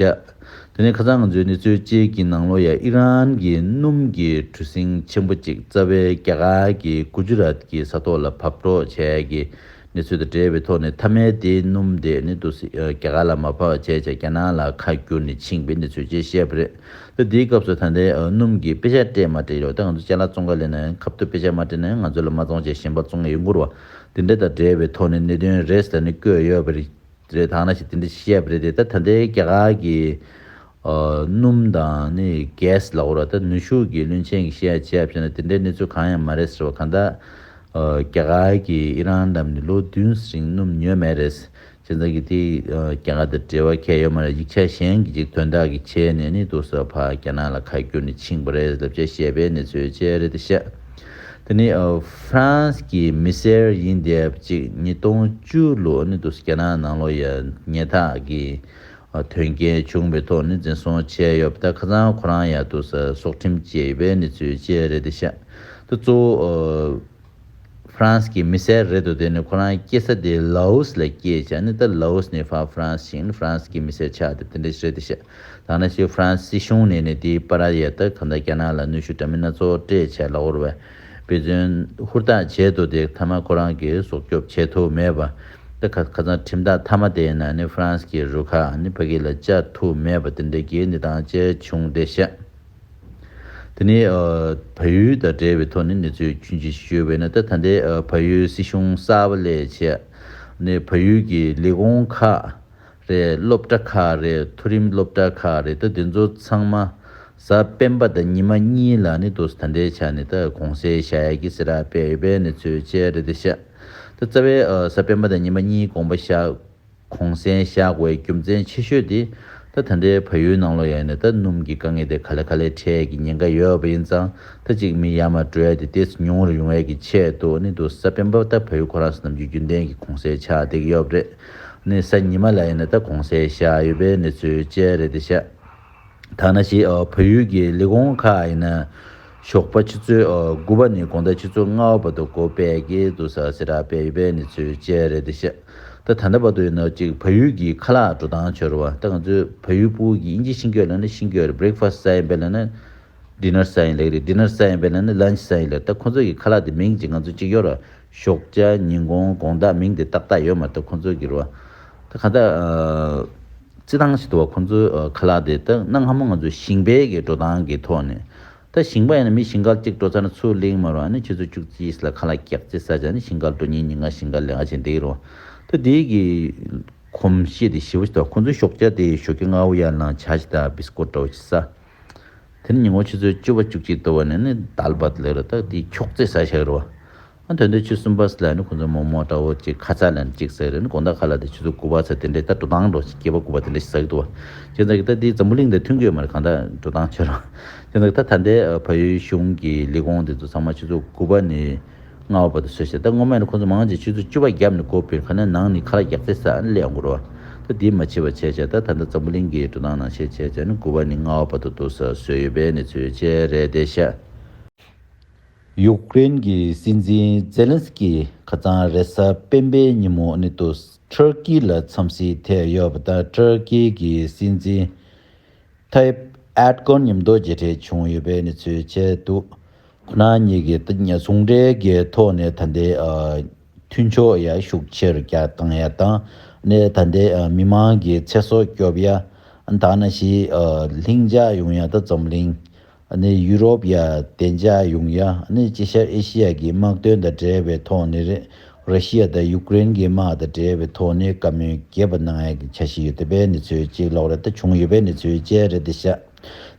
དེ་ནས་ཁ་ཚང་ང་ཚོའི་གནས་ཚུལ་བཅས་ཀྱི་ནང་ལོ་ཡ་ཨི་རན་གྱི་སྣུམ་གྱི་གྲུ་གཟིངས་ཆེན་པོ་གཅིག་རྩ་བའི་རྒྱ་གར་གྱི་གུ་ཇུ་རཱཏ་གྱི་ས་ཐོག་ལ་བབས་འགྲོ་བྱས་ཀྱི་གནས་ཚུལ་དང་འབྲེལ་བའི་ཐོག་ནས་མཐའ་མའི་དེའི་སྣུམ་དེ་ནི་དུ་སི་རྒྱ་གར་ལ་མ་བབས་བྱས་ཅེས་རྒྱ་ནག་ལ་ཁ་བསྒྱུར་ནས་ཕྱིན་པའི་གནས་ཚུལ་བཅས་བཤད་པ་རེད། ཏེ། དེའི་སྐབས་སུ་ད་ལྟའི་སྣུམ་གྱི་དཔེ་ཆ་སྤྲད་མ་སྤྲད་ཡོད་ད་ང་ཚོ་ཅལ་ལ་བཙོང་ཁ་ལེན་ན་ཁབ་ཐུབ་དཔེ་ཆ་མ་སྤྲད་ན་ང་ཚོ་ལ་མ་བཙོང་བྱས་གཞན་པ་བཙོང་གི་ཡོད་མགུར་བ་དེ་འདྲ་དང་འདྲེས་པའི་ཐོག་ནས་གནད་དོན་རེ་ཟ་ནི་བཀོད་ཡོད་པ་རེད་ད་ང་ཞིག་དེ་འདྲ་བྱེད་ཤེས་ཡ་པ་རེད་དེ་ད་ད་ལྟའི་རྒྱ་གར་གྱི་སྣུམ་དང་ནི gas ལ་འོར་བ་ད་ནུས་ཤུགས་ཀྱིས་བླུན་ཆེན་གྱི་ཤེས་ཡ་བྱས་ཡ་བྱས་ན་དེ་འདྲའི་གནས་ཚུལ་གང་ཡང་མ་རེད་ཟེར་བ་གང་ལྟར་རྒྱ་གར་གྱི་ཨི་རན་རྣམས་ནི་ལོ་བདུན་རིང་སྣུམ་ཉོས་མེད་རེད། ཁྱེད་རང་གིས་དེའི་སྐྱེ་རྒ་དང་འབྲེལ་བ་ཁྱད་ཡོད་མ་རེད་ཡིག་ཆ་གཞན་གྱི་ཅིག་དོན་དག་གི་ཆེད་ནས་ནི་དུར་ས་བྷ་ག་ན་ལ་ཁ་བསྒྱུར་ནས་ཕྱིན་པ་རེད་ལབ་ཅེས་བཤད་པའི་གནས་ཚུལ་བཅས་རེད་དེ་ཤ་དེ་ནི France གྱི་མི་སེར་ཡིན་དེབ་ཅིག་ཉིས་སྟོང་བཅུ་ལོ་ནི་དུར་ས་རྒྱ་ནག་ནང་ལོ་ཡ་ཉེ་དག་གི་དོན་རྐྱེན་བྱུང་བའི་ཐོག་ནི་འཛིན་བཟུང་བྱས་ཡོད་པ་དང་ཁ་ཚང་ཁོ་རང་ཡང་དུར་ས་སྲོག་ཁྲིམས་བཅད་ཡོད་པའི་གནས་ཚུལ་བཅས་རེད་དེ་ཤ་དེ་གཙོ་བོ་ཧྥ་རན་སི་གི་མི་སེར་རེད་འདུག་དེ་ནི་ཁོ་རང་སྐྱེས་ས་དེ Laos ལ་སྐྱེས་བྱས་ནི་ད Laos ནས་ཧྥ་རན་སི་ཞིང་ཧྥ་རན་སི་གི་མི་སེར་ཆགས་དེ་དེ་འདྲ་ཞིག་རེད་དེ་བཤད། ཐ་ན་ཕྱིས་ཧྥ་རན་སི་སྲིད་གཞུང་ནས་ནི་དེའི་པར་ཡལ་སྟབས་གང་ལྟར་རྒྱ་ནག་ལ་གནོད་ཤུགས་འདྲ་མིན་སྣ་ཚོགས་སྤྲད་བྱས་ལ་བོར་བའི་འབད་བརྩོན་ཧུར་ཐག་བྱས་འདུག་དེ་མཐའ་མ་ཁོ་རང་གིས་སྲོག་སྐྱོབ་བྱེད་ཐུབ་མེད་པ། ད་ཁ་ཁ་ཚང་ཁྲིམས་ཐག་མཐའ་མ་དེ་ཡིན་ན་ནི་ཧྥ་རན་སི་གི་རུ་ཁག་ནི་ཕ་གི་ལ་བཅར་ཐུབ་མེད་པ་དེ་འདྲ་གྱི་ནི་དང་བཅས་བྱུང་སྟེ་བཤད། དེ་ནི་བལ་ཡུལ་དང་འབྲེལ་བའི་ཐོག་ནས་གནས་ཚུལ་རྒྱུན་ཇི་བཞིན་བརྗོད་པས་ན་ད་ལྟའི་བལ་ཡུལ་སྲིད་གཞུང་གསར་པ་ལས་བྱེད་ནི་བལ་ཡུལ་གྱི་ལས་ཁུངས་ཁག་རེད་སློབ་གྲྭ་ཁག་རེད་མཐོ་རིམ་སློབ་གྲྭ་ཁག་རེད་ད་དེ་ཚོ་ཚང་མ་གཟའ་སྤེན་པ་དང་ཉི་མ་གཉིས་ལ་ནི་དོ་ཟ་ད་འདྲའི་ཆ་ནས་ད་གོང་གསལ་བྱ་ཡག་གི་སེ་ར་སྤེལ་ཡོད་པའི་གནས་ཚུལ་བཅས་རེད་དེ་བྱས་ད་རྩ་བའི་གཟའ་སྤེན་པ་དང་ཉི་མ་གཉིས་དགོངས་པ་བཞག་གོང་གསལ་བཞག་པའི་རྒྱུ་མཚན་ཆེ་ཤོས་དེ། ད་ད་འདྲའི་ཕ་ཡུལ་ནང་ལོ་ཡག་ནས་ད་སྣུམ་གྱི་དཀའ་ངལ་དེ་ག་ལ་ག་ལའི་འཕྲལ་གྱི་ཉེན་ཁ་ཡོད་པ་ཡིན་ཙང་ད་གཅིག་མི་ཡར་མར་བྲོས་ཏེ་ལྟས་ཉུང་ངུར་ཡོང་བའི་གི་ཆེད་དུ་ནི་འདུག་ས་སྤེན་པ་ད་ཕ་ཡུལ་ཁོ་རང་ས་ནམ་རྒྱུན་རྒྱུན་ལྡན་གྱི་གོང་གསལ་ཆགས་བསྡད་ཀྱི་ཡོད་པ་རེད། ནི་ས་ཉི་མ་ལ་ཡིན་ན་ད་གོང་གསལ་བཞག་ཡོད་པའི་གནས་ཚུལ་བཅས་རེད་དེ་ཤ། ཐ་ན་ཞེས་བོད་ཡུལ་གྱི་ལས་ཁུངས་ཁག་ཡིན་ན། ཞོགས་པ་ཆུ་ཚོད་དགུ་པ་ནས་དགོང་ཟླ་ཆུ་ཚོད་ལྔ་བ་བར་དུ་གོ་བལ་གྱི་དུར་ས་སེ་ར་བལ་ཡུལ་བའི་གནས་ཚུལ་བཅས་རེད་དེ་ཤ་སྟག་ད་ལྟ་བར་དུ་ཡིན་ནོ་གཅིག་བལ་ཡུལ་གྱི་ཁ་ལག་འགྲོ་སྟངས་ཆོས་ར་བ་ད་ང་ཚོའི་བལ་ཡུལ་པུའུ་གྱི་དབྱིན་ཇི་ཤིང་སྐྱོད་ལ་ནི་ཤིང་སྐྱོད་རེད Breakfast ས་ཡིན་པའི་ལ་ནི Dinner ས་ཡིན་ལེགས་རེད Dinner ས་ཡིན་པའི་ལ་ནི Lunch ས་ཡིན་ལེགས་ད་ཁོང་ཚོ་གི་ཁ་ལག་དེ་མིང་ཅིག་ང་ཚོ་གཅིག་ཡོད་ར་ཞོགས་ཅ་ཉིན་གོང་དགོང་ཟླ་མིང་དེ་ཏག་ཏག་ཡོད་མ་རེད་ད་ཁོང་ཚོ་གི་ར་བ་ད་གང་ལྟར་རྩི་ཐང་ཞིག་ཏུ་བ་ཁོ་ཚོའི་ཁ་ལག་དེ་དག་གནའ་སྔ་མོ་ང་ཚོའི་ཞིང་པའི་གི་འགྲོ་སྟངས་ཀྱི་ཐོག་ནས། ད་ཞིང་པ་ཡིན་ན་མི་ཞིང་ཁར་གཅིག་འགྲོ་ཚར་ན་ཚུར་གླེང་མ་རུང་ཨ་ནི་ཁྱོད་ཚོ་ཅུག་རྩིས་ཞིག་ལ་ཁ་ལག་བཀྱག་རྩིས་ས་ཆ་ནི་ཞིང་ཁར་འགྲོ་ཉིན་ཉིན་ང་ཞིང་ཁར་ལས་ཀ་བྱེད་འདེགས་རུང། ད་དེའི་གི་གོམས་གཤིས་དེ་ཞི་བོ་ཞིག་ཏུ་བ་ཁོ་ཚོའི་ཞོགས་སྐྱ་དེ་ཞོགས་སྐྱ་ལྔ་བོ་ཡར་ལངས་བྱ་ཞིག་ད་བིས་ཀོ་འདྲ་བོ་ཞིག་ས། དེ་ནི་ཉིན་གུང་ཆུ་ཚོད་བཅུ་བ་ཅུག་གཅིག་ཏུ་བ་ནས་ནི་དལ་བར་ལས་རུ་ད་དེའི་འཁྱོག་རྩིས་ས་ཞིག་རུ་བ། ཨ་དོན་དུ་ཆུ་གསུམ་པ་སི་ལ་ནི་ཁོ་ཚོའི་རྨོ་མོ་ཏྲ་བོ་གཅིག་ཁ་ཚ་ལན་གཅིག་ཟེར་རན་གོང་ད་ག་ལ་དེ་ཆུ་ཚོད་དགུ་པ་ཚ་དེ་འདྲའི་ད་འགྲོ་སྟངས་འགྲོ་ཞིང་སྐྱེས་པ་དགུ་པ་དེ་འདྲ་ཞིག་ཟ་གི་འདུག་བ། ཁྱེད་ཚང་གི་ད་དེའི་འཛམ་བུ་གླིང་དེ་མཐུན་དགོས་མ་རེད་གང་ད་འགྲོ་སྟངས་ཆོས་རང། ཁྱེད་ཚང་གི་ད་ད་ལྟའི་ཕ་ཡུལ་གཞུང་གི་ལས་ཁུངས་དེ་ཚོ་ཚང་མ་ཆུ་ཚོད་དགུ་པ་ནས་ལྔ་བ་བར་དུ་ཟོས་ཤིག་ད་སྔོན་མ་ནི་ཁོ་ཚོ་མང་ཆེ་ཆུ་ཚོད་བཅུ་པ་བརྒྱབ་ནས་སྒོ་སྤེལ་ཁ་ནས་ནང་ནས་ཁ་ར་རྒྱག་ཚེ་ས་ཨ་ནི་ལས་ཡང་འགོར་བ། ད་དེའི་མ་ཕྱི་བ་བྱས་བྱས་ད་ད་ད་འཛམ་བུ་གླིང་གི་འགྲོ་སྟངས་ནང་བྱས་བྱས་བྱས་ནས་དགུ་བ་ནས་ལྔ་བ་བར་དུ་དུ་ས་ཟོས་ཡོད་པའི་གནས་ཚུལ་བཅས་རེད་དེ་ཤ། ཡུཀ་རེན་གྱི་སྲིད་འཛིན་ཛེ་ལན་སི་ཀི་ཁ་རྩང་རེ་ས་སྤེན་པའི་ཉིན་མོ་ནི་ཏུ་ཏུར་ཀི་ལ་འཚམས་གཟིགས་ཐེབས་ཡོད་པ་དང་ཏུར་ཀི་གི་སྲིད་འཛིན་ཐ་ཡིབ་ཨེར་དགོན་ཉིན་མདོ་མཇལ་འཕྲད་བྱུང་ཡོད་པའི་གནས་ཚུལ་བཅས་འདུག་ཁོ་ན་གཉིས་ཀྱི་ཟུང་འབྲེལ་གྱི་ཐོག་ནས་ད་ལྟའི་མཐུན་ཕྱོགས་ཡར་ཤུགས་ཆེ་རུ་བཏང་ཡ་དང་ནས་ད་ལྟའི་མི་དམངས་ཀྱི་ཚེ་སྲོག་སྐྱོབ་ཡ་དང་ན་ཞིའི་ལྷིང་འཇགས་ཡོང་ཡ་དང་འཛམ་གླིང་ནི་ཡུ་རོབ་ཡ་བདེ་འཇགས་ཡོང་ཡ་ནི་དཀྱིལ་ཤར་ཨེ་ཤི་ཡ་གི་དམག་དོན་དང་འབྲེལ་བའི་ཐོག་ནས་རེད་ར་ཤི་ཡ་དང་ཡུ་ཀེ་རེན་གྱི་དམག་དང་འབྲེལ་བའི་ཐོག་ནས་བཀའ་མོལ་རྒྱས་པ་གནང་ཡ་གི་འཆར་ཞིག་ཡོད་དེ་པའི་གནས་ཚུལ་གཅིག་ལོག་རེད་ད་བྱུང་ཡོད་པའི་གནས་ཚུལ་བཅས་རེད་དེ་ཤ་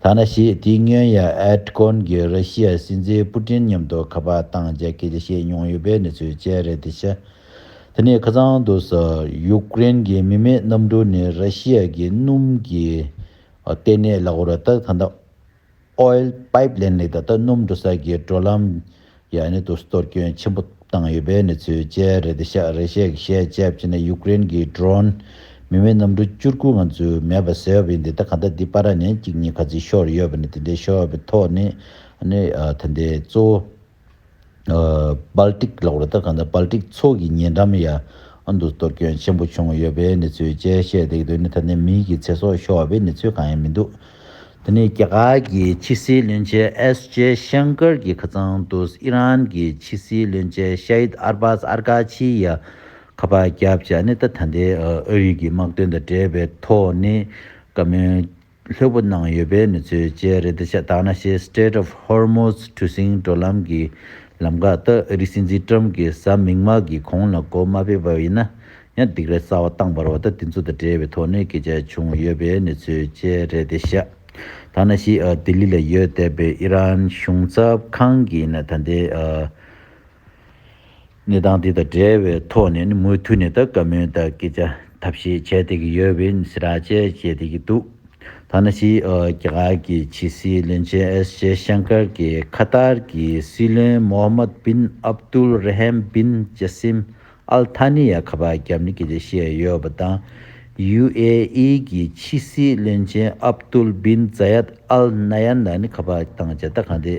ཐ་ན་ཞིག་དེའི་སྔོན་ཡ་ཨེར་ཀོན་གྱི་ར་ཤི་ཡ་སྲིད་འཛིན་པུ་ཏིན་མཉམ་དུ་ཁ་པར་བཏང་རྗེས་སྐད་ཆ་བཤད་མྱོང་ཡོད་པའི་གནས་ཚུལ་བཅས་རེད་དེ་ཤ་དེ་ནས་ཁ་ཚང་དུ་ས་ཡུ་ཀེ་རེན་གྱི་མི་མེད་གནམ་གྲུ་ནི་ར་ཤི་ཡ་གི་སྣུམ་གྱིས་གཏན་གནས་ལག་འོར་ར་ལྟར་ཐ་འདབ། Oil Pipeline ལས་ད་ལྟ་སྣུམ་འགྲོ་ས་ཀྱི་འགྲོ་ལམ། ཡང་དུ་གཏོར་སྐྱོན་ཆེན་པོ་བཏང་ཡོད་པའི་གནས་ཚུལ་བཅས་རེ་ད་ཤག་རེ་ཤག་གིས་བཤད་བྱས་བྱས་ནས་ཡུཀ་རེན་གྱི Drone མི་མེད་གནམ་གྲུ་བཅུར་དགུ་ང་ཚོས་མེད་པ་ཟེར་བ་ཡིན་འདི་ལྟ་ག་ད་འདི་པ་ར་ནས་གཅིག་གཉིས་ག་ཚིག་ཤོར་ཡོད་པ་ནི་དེ་འདྲའི་ཤོར་བའི་ཐོག་ནས་ནི་ད་འདི་གཙོ་བོ་པཱལ་ཀྲིག་ལ་ཝར་ཏར་ཁ་དང་པཱལ་ཀྲིག་ཚོགས་ཀྱི་ཉེ་འགྲམ་ཡང་དུ་གཏོར་སྐྱོན་ཆེན་པོ་བྱུང་ཡོད་པའི་གནས་ཚུལ་བཅས་བཤད་འདུག་དོན་ནི་ད་ནི་མིའི་གི་ཚེ་སྲོག་ཤོར་བ་བའི་གནས་ཚུལ་གང་ཡང་མི་འདུག་དེ་ནི་རྒྱ་གར་གྱི་ཕྱི་སྲིད་བློན་ཆེན་ཨེས་ཇེ་ཤང་ཀར་གྱི་ཁ་ཚང་དུ་ཨི་རན་གྱི་ཕྱི་སྲིད་བློན་ཆེན་ཤཱིད་ཨར་བཱས་ཨར་ཀ་ཆི་ཡ་ཁ་པར་བརྒྱབ་ཅེས་ཨ་ནི་ཏ་ཐ་ནྡེའི་ཨུ་ཡིག་གི་དམག་དོན་དང་འབྲེལ་བའི་ཐོག་ནས་བཀའ་མོལ་ལྷོད་པོ་གནང་ཡོད་པའི་མི་ཚོའི་བཅའི་རེ་འདུ་ཤ་སྟག་ན་ཤའི Strait of Hormuz གྲུ་གཟིངས་བགྲོད་ལམ་གྱི་ལམ་འགག་ལྟ་ཨ་རིའི་སྲིད་འཛིན་ཀྲམ་གྱིས་གཟའ་མིག་དམར་གྱི་གོང་ལ་གོ་མ་སྤེལ་བ་ཡིན་ན་ཡང་སྡིགས་ར་གསར་བ་བཏང་བར་བ་ད་དེ་ཚོ་དང་འབྲེལ་བའི་དོགས་གནས་སྐད་ཆ་བྱུང་ཡོད་པའི་མི་ཚོའི་བཅའི་རེ་འདུ་ཤ་སྟག་ན་ཤའི་ལྡི་ལི་ལ་ཡོད་བསྡད་པའི་ཨི་རན་གཞུང་ཚབ་ཁང་གིས་ན་ད་ལྟའི་གནས་སྟངས་དེ་དང་འབྲེལ་བའི་ཐོག་ནས་ནི་མུ་མཐུད་ནས་ད་སྐབས་མོས་དག་སྐད་ཆ་ཐབས་ཤེས་བྱས་ཏེ་གི་ཡོད་བས་ནི་སེ་ར་བཅས་བྱས་ཏེ་གི་འདུག་ཐ་ན་ཕྱི་རྒྱ་གར་གི་ཕྱི་སྲིད་བློན་ཆེན་ཨེས་ཇེ་ཤང་ཀར་གྱིས་ཁ་ཏར་གྱི་སྲིད་བློན་མོ་ཧ་མད་བིན་ཨབ་ཏུལ་རེ་ཧེམ་བིན་ཇེ་སིམ་ཨལ་ཐ་ནི་ཡ་ཁ་པ་རྒྱབ་ནི་སྐད་ཆ་བཤད་ཡོད་པ་དང། ཡུ་ཨེ་ཨི་གྱི་ཕྱི་སྲིད་བློན་ཆེན་ཨབ་ཏུལ་བིན་ཛཱ་ཡད་ཨལ་ནཱ་ཡན་ལ་ནི་ཁ་པ་དང་མཇལ་ད་གང་དེ་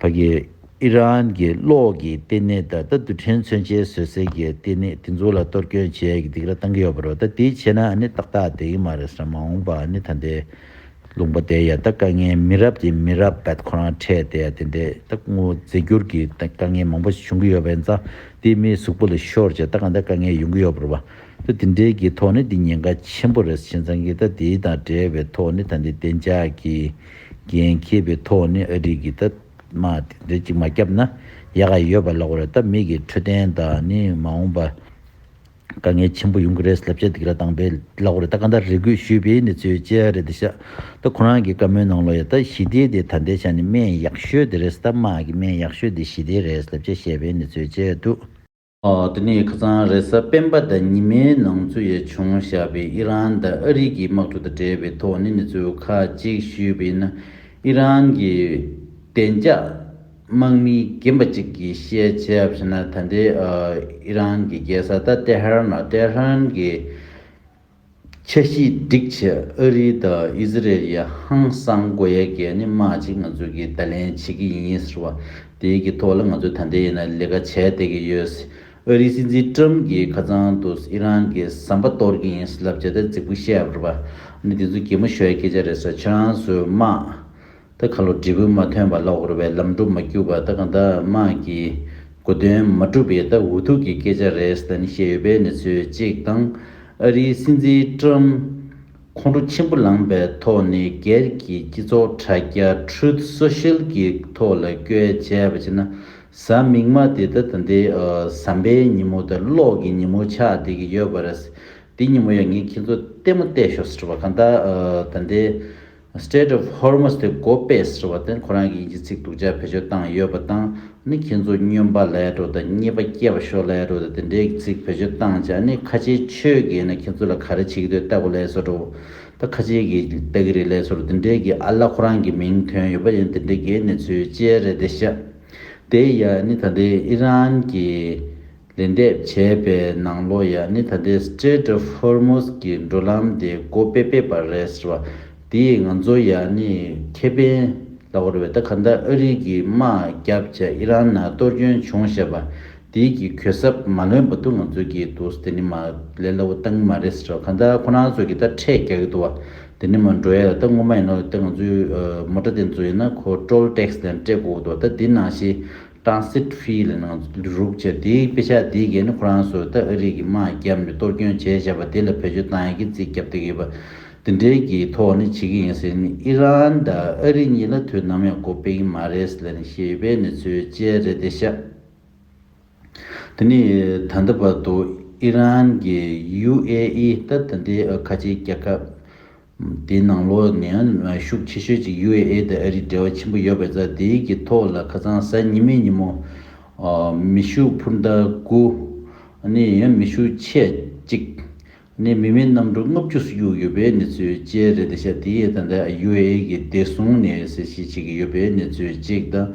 བ་དགེ། ཨི་རན་གྱི་གློག་གི་ལྟེ་གནས་དང་ད་རྡུ་ཕྲན་མཚོན་ཆའི་བཟོས་རྩལ་གྱི་ལྟེ་གནས་དེ་ཚོ་ལ་གཏོར་སྐྱོན་བྱས་ཀྱི་འདུག་ར་བཏང་གི་ཡོད་པ་རེད་ད་དེ་བྱས་ན་ནི་ཏག་ཏག་བསྡད་ཀྱི་མ་རེད་ས་མ་འོངས་པ་ནི་ད་འདའི་ལུང་པ་དེ་ཡ་ད་དཀའ་ངལ་མི་རབས་དེ་མི་རབས་བད་ཁོ་རང་འཕྲད་དེ་ཡ་དེ་འདའི་ད་དངོས་རྫས་འགྱུར་གྱི་ད་དཀའ་ངལ་མང་པོ་བྱུང་གི་ཡོད་པ་ཡིན་ཙང་དེ་མིའི་གཟུགས་པོ་ལ་ཤོར་བྱས་ད་ག་འདའ་དཀའ་ངལ་ཡོང་གི་ཡོད་པ་རེད་བ་ད་དེ་འདྲའི་གྱི་ཐོག་ནི་དེ་ཉེན་ཁ་ཆེན་པོ་རེད་བྱས་ཙང་གི་ད་དེའི་དང་འབྲེལ་བའི་ཐོག་ནི་ད་འདའི་བདེ་འཇགས་ཀྱི། རྒན་མཁས་པའི་ཐོག་ནས་ཨ་འགྲིག་གི་སྟབས་མ་དེ་འདྲ་ཅིག་མ་བསྐྱབས་ན་ཡག་ག་ཡོད་པ་ལོག་རེད་ད་མིག་གི་འཕྲོད་བསྟེན་དག་ནི་མ་འོངས་པ་དཀའ་ངལ་ཆེན་པོ་ཡོང་གི་རེད་ལབ་ཆ་འདི་ག་དང་པའི་ལོག་རེད་ད་ག་འདྲ་རེ་དགོས་ཞུས་པས་ནི་ཚོས་བཅད་རེད་ད་ཤ་ད་ཁོ་རང་གི་བཀའ་མོལ་ནང་ལོག་ཡ་ད་ཞི་བདེ་དེ་ད་འདྲའི་ཆ་ནི་སྨན་ཡག་ཤོས་དེ་རེད་སྟབས་མ་གི་སྨན་ཡག་ཤོས་དེ་ཞི་བདེ་རེད་ལབ་ཆ་བཤད་པས་ནི་ཚོས་བཅད་དུ། འདི་ནི་ཁ་ཚང་རེས་གཟའ་སྤེན་པ་ཟླ་ཉི་མའི་ནང་ཚུད་ཡ་བྱུང་བཞག་པའི་ཨི་རན་དང་ཨ་རིག་གི་དམག་གྲུ་དང་འབྲེལ་བའི་ཐོག་ནས་མི་ཚོས་ཁ་གཅིག་ཞུས་པས་ན་ཨི་རན་གྱི་བདེ་འཇགས་དམག་མི་རྒན་པ་གཅིག་གིས་བཤད་ཆ་བཞིན་ན་ད་ལྟའི་ཨི་རན་གྱི་རྒྱལ་ས་ད་ཏེ་ཧར་ན Tehran གྱི་ཁྱེད་ཀྱིས་སྒྲིག་བྱེད་ཨ་རི་དང་ཨི་ཟི་རེལ་ཡའི་ཧང་སང་སྒོ་ཡལ་གས་ནི་མ་གཅིག་ང་ཚོས་ཀྱིས་བརྡ་ལན་བྱེད་ཀྱི་ཡིན་ཟེར་བ་དེའི་གི་ཐོག་ལ་ང་ཚོས་ད་ལྟའི་ཡིན་ན་ལས་ཀ་བྱས་བསྡད་ཀྱི་ཡོད་སྲིད། ཨ་རིའི་སྲིད་འཛིན་ཀྲམ་གྱིས་ཁ་ཚང་དུ་ཨི་རན་གྱི་ཟམ་པ་གཏོར་གྱི་ཡིན་ཟེར་ལབ་བྱས་ཏེ་རྫིག་པོ་བཤད་པར་བ་ནི་དེ་ཚོ་གད་མོ་ཞོའི་སྐད་ཆ་རེད་ཟེར་ཁྱེད་རང་ཚོས་སྨྲ། ད་ག་ལོ་འབྲས་བུ་མ་ཐོན་པ་ལ་འོར་བའི་ལམ་སྒྲོ་མ་བསྐྱུར་བ་ད་གང་ད་དམག་གི་གོ་དོན་མ་གྲུབ་པའི་ད་འུ་ཐུག་གི་སྐད་ཆ་རེད་ད་ནི་ཤེས་ཡོད་པའི་ནི་ཚོད་ཅིག་དང་ཨ་རིའི་སྲིད་འཛིན་ཀྲམ་ཁོང་ཁྲོ་ཆེན་པོ་ལངས་པའི་ཐོག་ནས་སྒེར་གྱི་སྤྱི་ཚོགས་དྲ་རྒྱ Truth Social གི་ཐོག་ལ་བཀོལ་བྱས་པ་བྱས་ན་གཟའ་མིག་མ་དེ་ད་ད་འདི་ཟམ་པའི་ཉིན་མོ་ད་གློག་གི་ཉིན་མོ་ཆགས་བསྡད་ཀྱི་ཡོད་པ་རེད་འདི་ཉིན་མོ་ཡང་ངས་ཁྱེད་ཚོ་ལྟད་མོ་བལྟས་ཤོག་ཟེར་བ་གང་ད་ད་འདི Strait of Hormuz དེ་གོ་པས་ཟེར་བ་དེར་ཁོ་རང་གི་ཡིན་གྱི་ཚིག་དུག་ཅག་བེད་སྤྱོད་བཏང་ཡོད་པ་དང་ནི་ཁྱེད་ཚོ་སྨྱོན་པ་ལས་འགྲོ་དང་རྙེད་པ་སྐྱེ་བ་ཤོར་ལས་འགྲོ་དང་དེ་འདྲའི་གི་ཚིག་བེད་སྤྱོད་བཏང་ཅག་ནི་ཁ་ཆེའི་ཆོས་དགེ་ན་ཁྱེད་ཚོ་ལ་ག་རེ་བྱེད་གི་འདོད་ལྟ་གོ་ལས་སོ་འགྲོ་ད་ཁ་ཆེའི་གི་ལྟ་གི་རེད་ལས་སོ་རོ་དེ་འདྲའི་གི་ཨ་ལ་ཁོ་རང་གི་མིང་ཐོན་ཡོད་པ་ཡིན་དེ་འདྲའི་གི་གནས་ཚུལ་ཅེར་རེད་དེ་ཤ་དེ་ཡ་ནི་ད་ལྟའི་ཨི་རན་གི། ལེན་འདེབས་བྱས་པའི་ནང་ལོ་ཡག་ནི་ད་ལྟའི Strait of Hormuz གྱི་འགྲོ་ལམ་དེ་སྒོ་དཔེ་སྤེལ་བ་རེད་ཟེར་བ་དེས་ང་ཚོ་ཡག་ནི་ཁེ་ཕན་ལ་བོར་བས་ད་ག་ལྟར་ཨ་རི་གི་དམག་རྒྱབ་བྱས་ཨི་རན་ནང་གཏོར་སྐྱོན་བྱུང་བཤད་པ་དེའི་གི་གུད་གསབ་མ་ལོན་པ་འདུག་ང་ཚོས་གིས་འདུག་དེ་ནི་མ་ལས་སླ་བོ་གཏང་གི་མ་རེད་ཟེར་བ་ག་ལྟར་ཁོ་རང་ཚོས་གིས་ད་འཕྲད་རྒྱག་གི་འདུག་བ་དེ་ནི་མ་འགྲོ་ཡ་ད་ངོ་མ་ཡིན་ནོ་ད་ང་ཚོའི་མོ་ཏྲ་དེ་ཚོ་ཡིན་ན་ཁོ Toll Tax དེ་འདྲ་སྤྲད་དགོས་འདུག་བ་ད་དེ་ནང་བཞིན། ཀྲང་སི་ཁྲུའེ་ལ་ནང་རུག་ཕྱིར་དེའི་དཔེ་ཆ་དེའི་སྒེར་ནི་ཁོ་རང་སོ་ད་ཨ་རི་གི་དམག་རྒྱབ་ནས་གཏོར་སྐྱོན་བྱས་བྱས་པ་དེ་ལ་བེད་སྤྱོད་བཏང་ཡག་གི་རྩིས་རྒྱབ་ཏུ་ཡོད་པ་དེ་འདྲའི་གི་ཐོག་ནས་བྱེད་གི་ཡིན་ཟེར་ནས་ཨི་རན་དང་ཨ་རི་གཉིས་ལ་དུས་ནམ་ཡང་གོ་ཕེག་གི་མ་རེད་ཟེར་ནས་བཤད་ཡོད་པའི་གནས་ཚུལ་བཅས་རེད་དེ་ཤ་དེ་ནི་ད་ལྟ་བར་དུ་ཨི་རན་གི་ཡུ་ཨེ་ཨི་ད་ད་ལྟའི་ཨ་ཁ་ཆེའི་རྒྱལ་ཁབ་དེའི་ནང་ལོགས་ནས་ཡང་ཤུགས་ཆེ་ཤོས་ཀྱི་ཡུ་ཨེ་ཨེ་དང་ཨ་རིའི་འབྲེལ་བ་ཆེན་པོ་ཡོད་པས་རྫ་དེའི་གི་ཐོག་ལ་ཁ་ཚང་གཟའ་ཉི་མའི་ཉིན་མོ། མི་ཤུགས་འཕུར་མདའ་དགུ། ནི་ཡང་མི་ཤུགས་ཆད་གཅིག། ནི་མི་མེད་གནམ་གྲུ་ལྔ་བཅུ་སུ་གཡུག་ཡོད་པའི་གནས་ཚུལ་བཅས་རེད་དེ་ཤ་དེའི་ཨེ་དང་འདྲ་ཡུ་ཨེ་ཨེ་གི་བདེ་སྲུང་ནས་གསལ་བཤད་བྱེད་ཀྱི་ཡོད་པའི་གནས་ཚུལ་གཅིག་དང།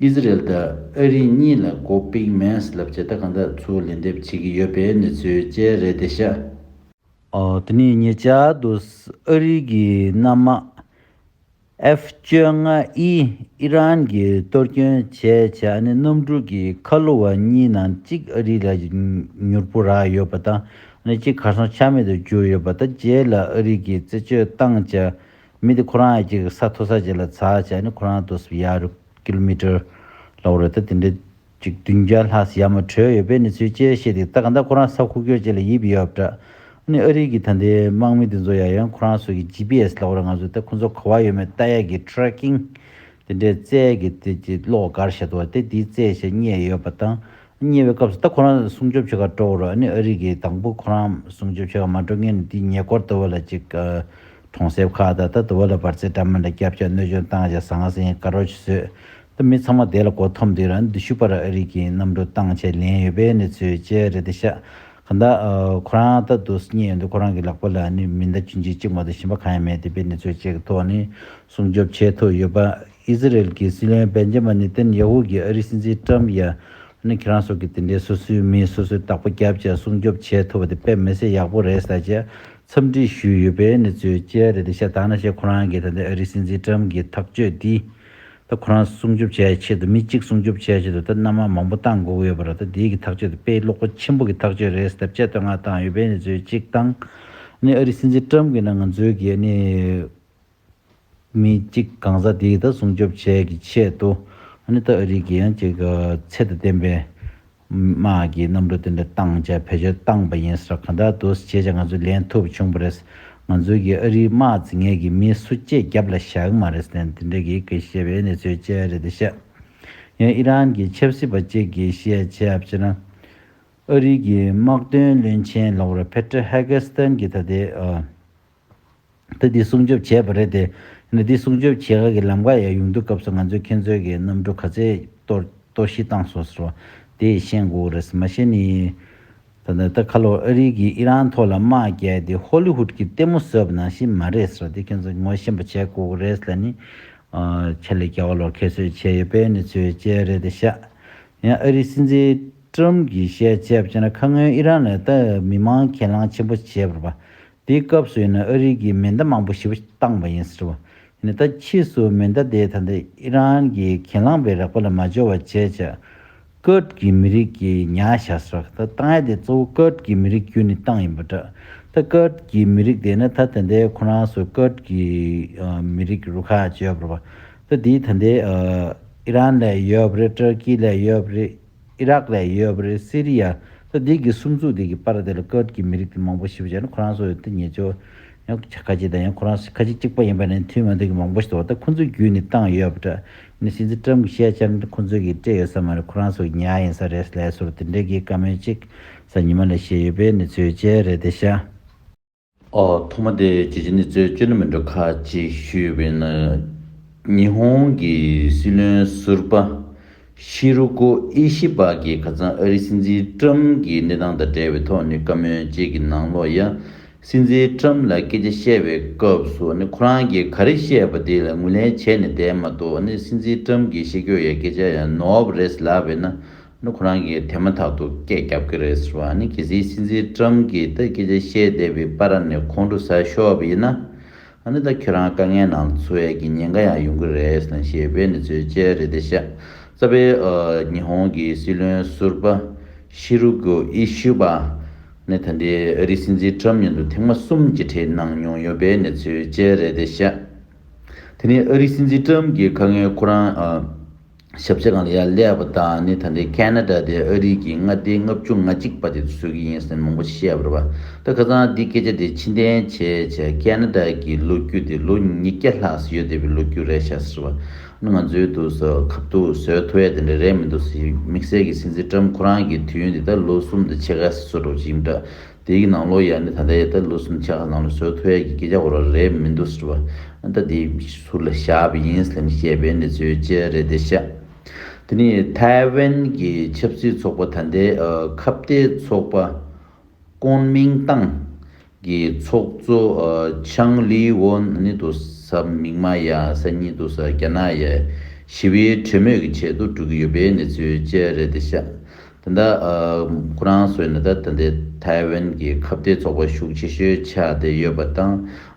ཨིས་ར་ཨེལ་དང་ཨ་རི་གཉིས་ལ་གོ་པིག་མན་སི་ལབ་བྱེད་ད་གང་དག་ཚུར་ལན་འདེབས་བྱེད་ཀྱི་ཡོད་པའི་གནས་ཚུལ་བཅས་རེད་དེ་ཤ། དེ་ནས་ཉེ་ཆར་དུ་ཨ་རི་གི་གནམ་དམག F བཅོ་ལྔ་ཨི་ཨི་རན་གྱི་གཏོར་སྐྱོན་བྱས་བྱས་ཨ་ནེ་གནམ་གྲུ་གི་ཁ་ལོ་བ་གཉིས་ནང་གཅིག་ཨ་རི་ལ་མྱུར་པོ་རག་ཡོད་པ་དང་ཨ་ནེ་གཅིག་གར་སོང་ཆ་མེད་དུ་གྱུར་ཡོད་པ་དང་རྗེས་ལ་ཨ་རི་གི་རྩད་གཅོད་བཏང་བྱ་མི་དེ་ཁོ་རང་ཡ་གྱི་ས་མཐོ་ས་བརྗེ་ལ་ཚ་བྱས་ནས་ཁོ་རང་དུ་སུ་ཡ་རུ kilometer ལ་འོ་རེད་ད་དེ་འདྲའི་གཅིག་བདུན་བརྒྱ་ལྷག་སུ་ཡ་མ་བྲོས་ཡོད་པའི་གནས་ཚུལ་བཅས་བཤད་འདུག་ད་ག་ད་ཁོ་རང་ས་ཁུག་ཀྱོག་བྱས་ལ་ཡིབ་ཡོད་འདྲ། ཨ་ནི་ཨ་རིག་གི་ད་ལྟའི་དམག་མི་དེ་ཚོ་ཡ་ཡོན་ཁོ་རང་སོ་གི GPS ལ་འོ་རེད་ང་ཚོ་ད་ཁོ་ཚོ་ག་བ་ཡོད་མེད་ལྟ་ཡ་གི tracking དེ་འདྲའི་རྩལ་གི་དེ་གྱི་གློག་གར་བྱེད་དོ་བ་དེ་དེའི་རྩལ་ཞིག་རྙེད་ཡོད་པ་དང་ཉེ་བའི་སྐབས་སུ་ད་ཁོ་རང་སྲུང་སྐྱོབ་བྱེད་ཁར་འགྲོ་བར་ཨ་རིག་གི་དང་པོ་ཁོ་རང་སྲུང་སྐྱོབ་བྱེད་ཁར་མ་འགྲོ་མཁན་ནི་དེའི་ཉེ་སྐོར་དུ་བ་ལ་གཅིག་གྲོང་གསེབ་ཁག་དང་ད་དུ་བ་ལ་བར་ཚེ་འདྲ་མིན་ལ་སྐྱབས་བཅག་གནོད་སྦྱོང་བཏང་བྱས་ཟང་ང་ཟིང་དགའ་རོགས་ཀྱིས་ཟོས། ད་མི་ཚང་མ་བསྡད་ལ་གོ་ཐོབ་འདུག་རང་འདུ་ཤུགས་པར་ཨ་རིག་གིས་གནམ་གྲུ་བཏང་ཆས་ལེན་ཡོད་པའི་གནས་ཚུལ་བཅས་རེ་ད་ཤག་ག་མདའ། ཁོ་རང་ད་དུ་སྙེ་ཡོད་འདུག་ཁོ་རང་གི་ལག་པ་ལ་ནི་མི་མདའ་གཅུན་ཅིག་གཅིག་མ་གཏོགས་ཞིམ་པ་གང་ཡང་མེད་འདུག་པའི་གནས་ཚུལ་བཅས་ཀྱི་ཐོག་ནས་སྲུང་སྐྱོབ་བྱས་ཐུབ་ཡོད་པ། ཨི་ཟི་རེལ་གྱི་སྲིད་བློན་བན་འཇེ་མ་ནི་ཏན་ཡ་ཧུ་གྱིས་ཨ་རིའི་སྲིད་འཛིན་ཀྲམ་ཡ་ནི་ཁྱེད་རང་སོགས་ཀྱིས་དེ་འདྲའི་སོ་སོའི་མིས་སོ་སོའི་བདག་པོ་བརྒྱབ་ཅིང་སྲུང་སྐྱོབ་བྱེད་ཐུབ་པ་དེ་དཔེ་མི་སྲིད་ཡག་པོ་རེད་ཟེར་རྗེས་འཚམས་འདྲི་ཞུས་ཡོད་པའི་ནི་ཚོའི་དཔྱད་རེད་དེ་ཤ་སྟག་ན་བཤད་ཁོ་རང་གིས་ད་ལྟའི་ཨ་རིའི་སྲིད་འཛིན་ཀྲམ་གྱི་ཐག་གཅོད་འདིས་ད་ཁོ་རང་སྲུང་སྐྱོབ་བྱས་ཆེད་དུ་མི་གཅིག་སྲུང་སྐྱོབ་བྱས་ཆེད་དུ་ད་མནའ་མ་མང་པོ་བཏང་དགོས་ཀྱི་ཡོད་པ་རེད་ད་འདིའི་གི་ཐག་གཅོད་དེ་དཔེ་ཀློག་པོ་ཆེན་པོ་གི་ཐག་གཅོད་རེད་ཟེར་ཐབས་བཅད་བསྟོད་བསྔགས་བཏང་ཡོད་པའི་ནི་ཚོའི་གཅིག་དང་ནི་ཨ་རིའི་སྲིད་འཛིན་ཀྲམ་གྱིས་ནི་ང་ཚོའི་གི་ནི་མི་གཅིག་གང་ཟག་དེའི་ད་སྲུང་སྐྱོབ་བྱེད་ཀྱི་ཆེད་དུ། ཨ་ནི་ཏཱ་ཨ་རིག་གིས་ཡང་གཅིག་ཚད་དང་ལྡན་པའི་དམག་གི་གནམ་གྲུ་དེ་འདྲ་བཏང་རྗེས་བེད་སྤྱོད་བཏང་པ་ཡིན་ཟེར་གང་འདྲ་དུ་བྱས་རྗེས་ང་ཚོས་ལེན་ཐུབ་བྱུང་བ་རེད། ང་ཚོའི་གིས་ཨ་རིའི་དམག་རྩིས་ངེས་ཀྱི་མི་སུ་སྐྱེས་རྒྱབ་ལ་བཞག་གི་མ་རེད་ཟེར་ནས་དེ་འདྲ་གིས་གིས་བཤད་པའི་གནས་ཚུལ་བཅས་རེད་དེ་བཤད། ཡང་ཨི་རན་གྱི་ཆབ་སྲིད་པ་གཅིག་གིས་བཤད་རྒྱབ་ཕྱིར་ན། ཨ་རིག་གི་དམག་དོན་བློན་ཆེན་ལོར་བྷེ་ཏྲེ་ཧེ་ཀེ་སྟེན་གྱིས་ད་ལྟའི་ཨ། ཏུ་འདི་སྲུང་སྐྱོབ་བྱས་པ་རེད་དེ། འདི་སྲུང་སྐྱོབ་བྱེད་དགའ་གི་ལམ་ཀ་ཡང་ཡོང་དུས་སྐབས་སུ་ང་ཚོས་ཁྱེད་ཚོའི་གི་གནམ་གྲུ་ག་ཚད་གཏོར་གཞི་བཏང་སོ་ཟེར་བ་དེ་ཤེས་དགོས་ཀྱི་རེད། མ་ཤེས་ནི། ད་ནི་ད་ཁ་ལོ་ཨ་རི་གིས་ཨི་རན་ཐོག་ལ་དམག་རྒྱག་དེ་ཧོ་ལི་ཧུད་ཀྱི་ལྟད་མོ་བཟོས་པ་ནང་བཞིན་མ་རེད་ཟེར་བ་དེ་ཁྱེད་ཚོས་ངོ་ཤེས་པ་བྱས་དགོས་ཀྱི་རེད་ལ་ནི། ཆེད་ལས་རྒྱ་བ་ལོ་ཁེ་གསོད་བྱས་ཡོད་པའི་གནས་ཚུལ་བཅས་རེད་དེ་ཤ་ཡང་ཨ་རི་སྲིད་འཛིན་ཀྲུམ་གྱིས་བཤད་བྱས་པ་ཅི་ན་ཁ་སྔོན་ཨི་རན་ལ་ད་མི་མང་གྱེན་ལངས་ཆེན་པོ་བྱས་པར་བ་དེའི་སྐབས་སུ་ཡིན་ན་ཨ་རིའི་གིས་མེ་མདའ་མང་པོ་ཞིབ་བཏང་བ་ཡིན་ཟེར་བ། ཡིན་ད་ཕྱིས་སུ་མེ་མདའ་དེ་ད་ལྟ་ཨི་རན་གྱིས་གྱེན་ལངས་པའི་རགས་པ་ལ་མ་འབྱོར་བ་བྱས་ཆ། ཀུརྡ་གྱི་མི་རིགས་ཀྱིས་ཉག་བཞག་ཟེར་བ། ད་ཏང་ཡ་དེ་གཙོ་བོ་ཀུརྡ་གྱི་མི་རིགས་བརྒྱུད་ནས་བཏང་ཡིན་པ་འདྲ། ད་ཀུརྡ་གྱི་མི་རིགས་དེ་ཡིན་ན་ད་དེ་འདའི་ཁོ་རང་སུ་ཀུརྡ་གྱི་མི་རིགས་རུ་ཁག་བརྗོད་པར་བ། ད་དེའི་ད་འདའི་ཨི་རན་ལས་ཡོད་པ་རེད་ཏུར་ཀི་ལས་ཡོད་པ་རེད། ཨི་རག་ལ་ཡོད་པ་རེད་སི་རི་ཡ་སོགས་འདི་གི་སུམ་ཚུགས་འདི་གི་པར་དེ་ལ་ཀུརྟ་གི་མི་རིགས་དེ་མང་པོ་ཞིག་བྱས་ན་ཁོ་རང་སོགས་ཡོད་དེ་ཉེས་ཆོ་ཡང་ཁ་ཅིག་དང་ཡང་ཁོ་རང་ཁ་ཅིག་གཅིག་པ་ཡིན་པ་ནི་མཐུན་མ་མཐུན་གི་མང་པོ་ཞིག་དོགས་ད་ཁོ་ཚོའི་རྒྱུད་ནས་བཏང་ཡོད་པ་འདྲ་ནི་སྲིད་འཛིན་ཀྲམ་གི་ཤེས་བྱར་ནི་ཁོ་ཚོས་གིས་སྤྲད་ཡོད་ས་མ་རེད་ཁོ་རང་སོགས་ཉལ་ཡིན་ས་རེད་ལས་སོར་དེ་འདྲའི་གིས་དཀའ་མོལ་གཅིག་ས་ཉི་མ་ལ་བཤད་ཡོད་པས་ནི་ཚོས་བྱས་རེད་དེ་ཤ། ཐོག་མ་དེ་རྒྱལ་སྤྱི་ནི་གཙོས་བཅོས་ལས་མི་འགྲོ་ཁག་ཅིག་ཞུས་པའི་ནང། ཉི་ཧོང་གི་སྲིད་བློན་ཟུར་པ། ཤི་རུ་ཀོ་ཨི་ཤི་པ་གྱིས་ཁ་ཚང་ཨ་རིའི་སྲིད་འཛིན་ཀྲམ་གྱི་གནས་སྟངས་དང་འབྲེལ་བའི་ཐོག་ནས་བཀའ་མོལ་བཅས་ཀྱི་ནང་ལོ་ཡ། སྲིད་འཛིན་ཀྲམ་ལ་སྐད་ཆ་བཤད་པའི་སྐབས་སུ་ཁོ་རང་གིས་ག་རེ་བཤད་པ་དེ་ལ་ངོས་ལེན་བྱས་ནས་བསྡད་མ་གཏོགས་སྲིད་འཛིན་ཀྲམ་གྱི་ཤེས་ཁྱོ་ཡའི་སྐད་ཆ་ཡང་ནོར་བ་རེད་ཟེར་ལབ་པས་ན། ནི་ཁོ་རང་གིས་དེ་མ་ཐག་ཏུ་སྐད་བརྒྱབ་ཀྱི་རེད་ཟེར་བ་ནི་གལ་སྲིད་སྲིད་འཛིན་ཀྲམ་གྱིས་ད་སྐད་ཆ་བཤད་བསྡད་པའི་པར་ར་ནས་ཁོང་ཁྲོ་ཟ་ཤོག་པ་ཡིན་ན། ནི་ད་ཁྱོད་རང་དཀའ་ངལ་ནང་འཚོ་བས་ཀྱི་ཉེན་ཁ་ཡང་ཡོང་གི་རེད་ཟེར་ཞེས་པའི་ནི་ཚོད་དཔྱད་རེད་དེ་ཤ་ཚ་པའི་ཉི་ཧོང་གི་སྲིད་བློན་ཟུར་པ་ཤི་རུ་གོ་ཨི་ཤུ་པ་ནི་ད་འདྲའི་ཨ་རིའི་སྲིད་འཛིན་ཀྲམ་ཉིན་ཏུ་ཐེངས་མ་གསུམ་གྱི་གྲས་གནང་མྱོང་ཡོད་པའི་ནི་ཚོད་དཔྱད་རེད་དེ་ཤ་དེ་ནི་ཨ་རིའི་སྲིད་འཛིན་ཀྲམ་གྱི་ཁ་ངན་ཁོ་རང་ཞབས་རྗེས་གང་ལ་ཡ་ཀླད་པ་དག་ནི་ད་འདྲའི་ཀན་ན་ཀྲ་དེ་ཨ་རིག་གི་མངའ་སྡེའི་ལྔ་བཅུ་ང་གཅིག་པ་དེ་བཟོས་ཀྱི་ཡིན་ཟེར་མང་པོ་བཤད་བར་བ་ད་ཁ་ཚང་འདི་སྐད་ཆ་དེ་ཕྱི་འཐེན་བྱས་བྱས་ཀན་ན་ཀྲ་གི་ལོ་རྒྱུས་དེ་ལོ་ཉིས་བརྒྱ་ལྷག་ཟིག་ཡོད་དེ་བའི་ལོ་རྒྱུས་རེད་ཤག་ཟེར་བ་ནི་ང་ཚོའི་དུག་ཟ་གབ་དུག་བཟོས་ཐུ་བས་དེ་འདྲ་རེད་མི་འདུག་ཟེར་དམིགས་བསལ་གྱི་སྲིད་འཛིན་ཀྲམ་ཁོ་རང་གི་དུས་ཡུན་དེ་ད་ལོ་གསུམ་དུ་ཕྱེད་ཀ་ཟིག་བཟོ་གྲབས་ཀྱི་ཡིན་འདྲ་དེའི་ནང་ལོ་ཡག་ནི་ད་ལྟ་ཡ་ད་ལུགས་སུ་ནི་ཆ་ཁ་ལང་ལོ་སོའི་ཐོ་ཡག་གི་སྐད་ཆ་གོ་ར་རེད་མི་འདུག་ཟེར་བ་ཨ་མདའ་དེ་ཟུར་ལ་བཞག་པ་ཡིན་སླེམ་བཤད་པའི་གནས་ཚུལ་ཅི་རེད་བལྟས་ཤག་དེ་ནི་ཐའེ་ཝན་གྱི་ཆབ་སྲིད་ཚོགས་པ་ད་ལྟའི་ཁ་བརྡའི་ཚོགས་པ་ཀོན་མིང་ཏང་གི་ཚོགས་གཙོ་ཆང་ལི་ཝོན་ནི་འདུག་ས་མིག་མ་ཡ་ས་གཉིས་འདུག་ས་རྒྱ་ནག་ཡ་ཞི་བའི་གྲོས་མོས་ཀྱི་ཆེད་དུ་སྒྲུག་གི་ཡོད་པའི་གནས་ཚུལ་ཅི་རེད་བལྟས་ཤག། དེ་འདྲ་ཁོ་རང་ཚོས་ནི་ད་ལྟ་འདི་ཐའེ་ཝན་གྱི་ཁ་བརྡའི་ཚོགས་པ་ཤུགས་ཆེ་ཤོས་ཆགས་བསྡད་ཡོད་པ་དང་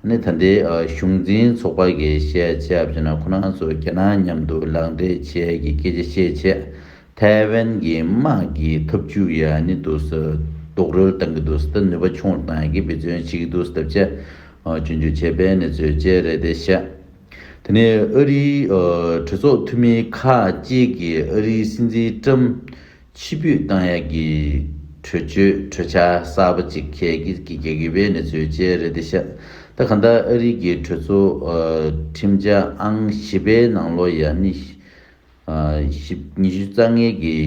ནི་ད་ལྟའི་གཞུང་འཛིན་ཚོགས་པ་གི་བཤད་བྱ་བྱས་ན་ཁོ་རང་ཚོ་རྒྱ་ནག་མཉམ་དུ་ལག་འབྲེལ་བྱས་ཀྱི་སྐད་ཆ་བཤད་ཆེད་ཐའེ་ཝན་གྱི་དམག་གི་ཐབས་ཇུས་ཡ་ནི་འདུག་ཟེར་རྡོག་རོལ་བཏང་གི་འདུག་ཟེར་ནུས་པ་ཆུང་རུ་བཏང་ཡག་གི་འབད་བརྩོན་བྱེད་ཀྱི་འདུག་ཟེར་ཐབས་བྱས་རྒྱུན་འཇུག་བྱས་པའི་གནས་ཚུལ་བཅས་རེད་དེ་བཤད། དེ་ནས་ཨ་རིའི་གྲོས་ཚོགས་འཐུས་མི་ཁག་བཅས་ཀྱིས་ཨ་རིའི་སྲིད་འཛིན་ཀྲམ་ཕྱི་ཕུད་བཏང་ཡག་གི་གྲོས་ཆོད་གྲོས་འཆར་གསར་པ་ཅིག་ཁྱེད་ཀྱིས་ཀྱི་ག་གི་བའི་གནས་ཚུལ་བཅས་རེད་དེ་ཤ་ད་ག་འདའ་ཨ་རིའི་གི་གྲོས་ཚོགས་ཁྲིམས་འཆར་ཨང་བཞི་པའི་ནང་ལོ་ཡ་ནི་ཉི་ཤུ་རྩ་ལྔའི་གི།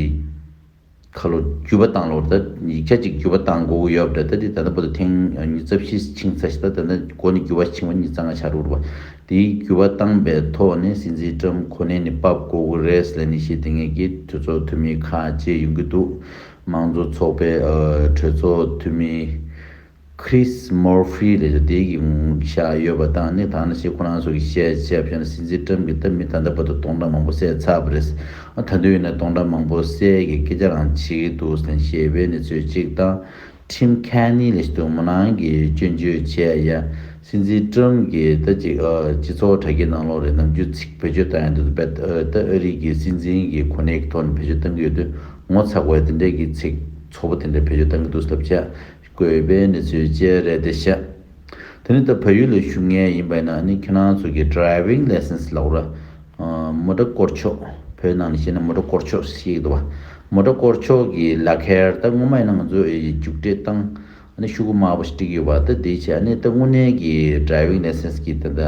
ཁ་ལོ་བརྒྱུས་པ་དང་ལོར་ཟླ་ཉིས་བརྒྱ་གཅིག་བརྒྱུས་པ་དང་མགོ་བོ་ཡོལ་བ་འདྲ་སྟེ་ད་ནི་པོ་ཏོ་ཐེངས་གཉིས་རྩ་བཞི་ཆིངས་ཚ་ཞེས་དང་ད་ནི་མགོ་ནི་བརྒྱུས་པ་ཆིངས་བ་གཉིས་རྩ་ལྔ་ཆར་འུར་བ། དེའི་བརྒྱུས་པ་བཏང་པའི་ཐོག་ནས་སྲིད་འཛིན་ཀྲམ་ཁོ་ནའི་ནི་པབ་ཀོ་ཝུ་རེས་ལས་ནི་ཞེས་དེ་སྔའི་གི་གྲོས་ཚོགས་འཐུས་མི་ཁག་བཅས་ཡོང་གི་འདུག་དམངས་གཙོ་ཚོགས་པའི་གྲོས་ཚོགས་འཐུས་མི། Chris Murphy ལས་ཀ་དེའི་གི་ངོ་ཤ་ཡོད་པ་དང་ནི་དང་ན་ཞེས་ཁོ་རང་སོགས་ཀྱིས་བཤད་བྱས་བྱས་ན་སྲིད་འཛིན Trump གིས་ད་མི་ད་ལྟ་བར་དུ་སྟོང་ཕྲག་མང་པོ་བསད་ཚར་བ་རེད། ད་དུས་ཡིན་ན་སྟོང་ཕྲག་མང་པོ་བསད་གི་སྐད་ཆ་རང་བྱེད་ཀྱི་འདུག་ཟེར་ནས་ཞེས་པའི་གནས་ཚུལ་གཅིག་དང། Tim Kaine ལས་ཞེས་དུ་མོ་ནང་གི་སྐྱོན་བརྗོད་བྱས་ཡ། སྲིད་འཛིན Trump གིས་ད་ཅིག་སྤྱི་ཚོགས་དྲ་རྒྱའི་ནང་ལོག་རེས་ནམ་རྒྱུན་ཚིག་བེད་སྤྱོད་བཏང་ཡང་འདི་ད་ད་ཨ་རིག་གི་སྲིད་འཛིན་གི་གོ་གནས་ཀྱི་ཐོག་ནས་བེད་སྤྱོད་བཏང་གི་ཡོད་དུས་ངོ་ཚ་དགོས་ཡ་དེ་འདྲའི་གི་ཚིག་ཚོགས་པོ་དེ་འདྲ་བེད་སྤྱོད་བཏང་གི་འདུག་ཟེར་ཐབས་བྱས། དགོས་པའི་གནས་ཚུལ་བཅས་རེད་དེ་ཤ། དེ་ནས་ད་བལ་ཡུལ་ལ་བཞུགས་ངེས་ཡིན་པ་ཡིན་ན་ནི་ཁྱེད་རང་ཚོ་གི Driving License ལག་ར། མོ་ཏྲ་སྐོར་ཆོག་བོད་ནང་ནས་བཤད་ན་མོ་ཏྲ་སྐོར་ཆོག་ཞེས་འདུག་བ། མོ་ཏྲ་སྐོར་ཆོག་གི་ལག་ཁྱེར་ད་སྔོན་མ་ཡིན་ན་ང་ཚོས་རྒྱུགས་སྤྲད་སྟངས་ནི་ཤུགས་དགོས་དམའ་བོ་ཞིག་བསྒྲིགས་ཡོད་བ་སྟེ་དེའི་ཆ་ནས་ད་དངོས་གནས་ཀྱི Driving License གི་ད་ལྟ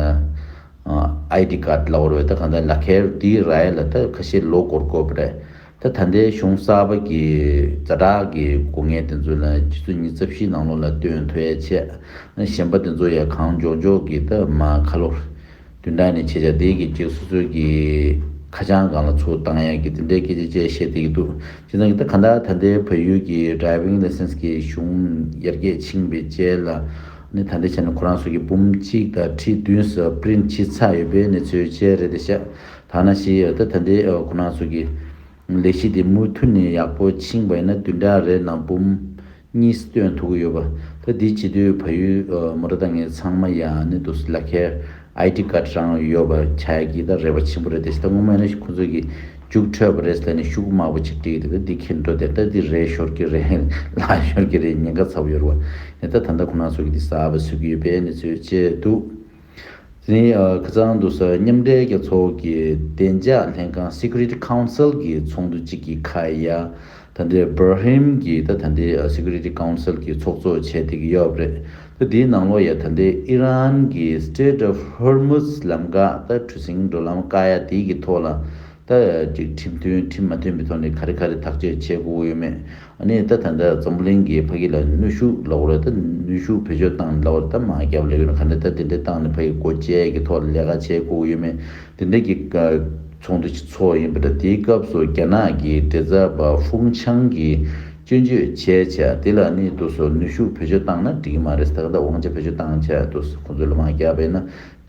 ID Card ལག་རོལ་ད་གང་ལྟར་ལག་ཁྱེར་དེའི་རྭའི་ལ་ད་ཁ་ཤས་ལོ་སྐོར་དགོས་པ་རེད། ད་ད་ལྟའི་གཞུང་གསར་པ་གྱི་རྩ་དྲག་གི་སྒོ་ངའི་དེ་ཚོ་ལ་ཁྱེད་ཚོ་གཉིས་རྩ་བཞིའི་ནང་ལོགས་ལ་སྟོན་ཐུ་ཡ་ཆད། གཞན་པ་དེ་ཚོ་ཡ་གང་འཇོག་འཇོག་གི་ད་མ་ཁ་ལོ། དུས་འདའ་ནས་ཁྱེད་ཅག་དེའི་གི་ཁྱེད་སོ་སོའི་གི་ཁ་བྱང་གང་ལ་ཚུར་བཏང་ཡ་གི་དེ་འདྲའི་སྐད་ཆ་བཅས་བཤད་བསྡད་གི་འདུག་ཁྱེད་ཚང་གི་ད་གང་ལྟར་ད་ལྟའི་བལ་ཡུལ་གྱི Driving License གི་གཞུང་ཡར་རྒྱས་ཕྱིན་པའི་རྐྱལ་ལ་ནི་ད་འདྲའི་ཆ་ནས་ཁོ་རང་སོ་གི་འབུམ་གཅིག་དང་ཁྲི་བདུན་སོགས Print བྱེད་ཚར་ཡོད་པའི་གནས་ཚུལ་བཅས་རེད་དེ་ཤ་ཐ་ན་ཞེས་ཡོད་ད་ད་འདི་ཁོ་ན་ཟུར་གྱི་ལས་གཞི་དེ་མུ་མཐུད་ནས་ཡག་པོ་ཕྱིན་པ་ཡིན་ན་དུས་འདྲ་རེད་ནང་འབུམ་གཉིས་སྟོན་ཐུག་གི་ཡོད་པ་ད་འདི་བྱེད་དུས་ཕ་ཡུལ་མོ་ར་ད་ངས་ཚང་མ་ཡ་ནི་འདུག་སི་ལ་ཁའི ID card རང་ཡོད་པ་ཆ་གི་ད་རེ་བ་ཆེན་པོ་རེད་ད་ཞི་ད་སྔོན་མ་ཡིན་ན་ཁོ་ཚོ་གི་རྒྱུགས་འཕྲོད་པ་རེད་ད་ནི་ཤུགས་དམའ་པོ་ཅིག་སྤྲད་གི་འདུག་ད་འདི་ཁྱེད་འགྲོ་དེར་ད་འདི་རེད་ཤོར་གི་རེད་ལ་ཤོར་གི་རེད་ཉེན་ཁ་ཚ་བོ་ཡོད་རེད་བ་ད་ད་ད་ད་ཁོ་ན་ཟུར་གྱི་འདི་གསར་པ་བཟོས་གི་ཡོད་པས་ནི་ཚོས་བྱས་འདུག། ལིན་ཡ་ཁི་ཙང་དུ་སོགས་མཉམ་འབྲེལ་རྒྱལ་ཚོགས་ཀྱི་བདེ་འཇགས་ལྷན་ཁང Security Council གྱི་ཚོགས་འདུ་གཅིག་གི་ཁ་ཡ་ད་ལྟའི Bahrain གྱི་ད་ལྟའི Security Council གྱི་ཚོགས་གཙོ་བྱས་ཏེ་གི་ཡོད་པ་རེད། ད་དེའི་ནང་ལོ་ཡ་ད་ལྟའི་ཨི་རན་གྱི Strait of Hormuz ལམ་འགག་ད་གྲུ་གཟིངས་འགྲོ་ལམ་བཀག་ཡ་དེའི་གི་ཐོག་ལ་ད་ཅིག་ཁྲིམས་མཐུན་ཁྲིམས་མ་མཐུན་པའི་ཐོག་ནས་ག་རེ་ག་རེ་ཐག་གཅོད་བྱེད་དགོས་ཡོད་མེད་གནས་སྟངས་དེ་འདྲར་འཛམ་བུ་གླིང་གིས་ཕ་ཁི་ལ་ནུས་ཤུགས་ལ་བོར་ཏེ་ནུས་ཤུགས་བེད་སྤྱོད་བཏང་ནས་ལ་བོར་ཏེ་མ་བརྒྱབ་ལས་ཡོད་ན་ག་འདྲའི་ཐབས་དེ་འདྲའི་བཏང་ནས་ཕ་ཁི་སྒོ་འབྱེད་ཀྱི་ཐོག་ལ་ལས་ཀ་བྱེད་དགོས་ཀྱི་ཡོད་མེད་དེ་འདྲའི་གི་ཚོགས་འདུ་ཚོགས་ཡིན་པ་འདྲ་དེའི་སྐབས་སུ་རྒྱ་ནག་གི་འབྲེལ་ཚ་བ་ཧྥུང་ཆང་གིས་སྐྱོན་བརྗོད་བྱས་ཆ་དེ་ལ་ནི་དུ་སོ་ནུས་ཤུགས་བེད་སྤྱོད་བཏང་ན་འགྲིག་གི་མ་རེད་ད་ག་འདྲ་དབང་ཆ་བེད་སྤྱོད་བཏང་ཆ་དུ་སོ་ཁོང་ཚོས་ལ་མ་བརྒྱབ་པས་ན་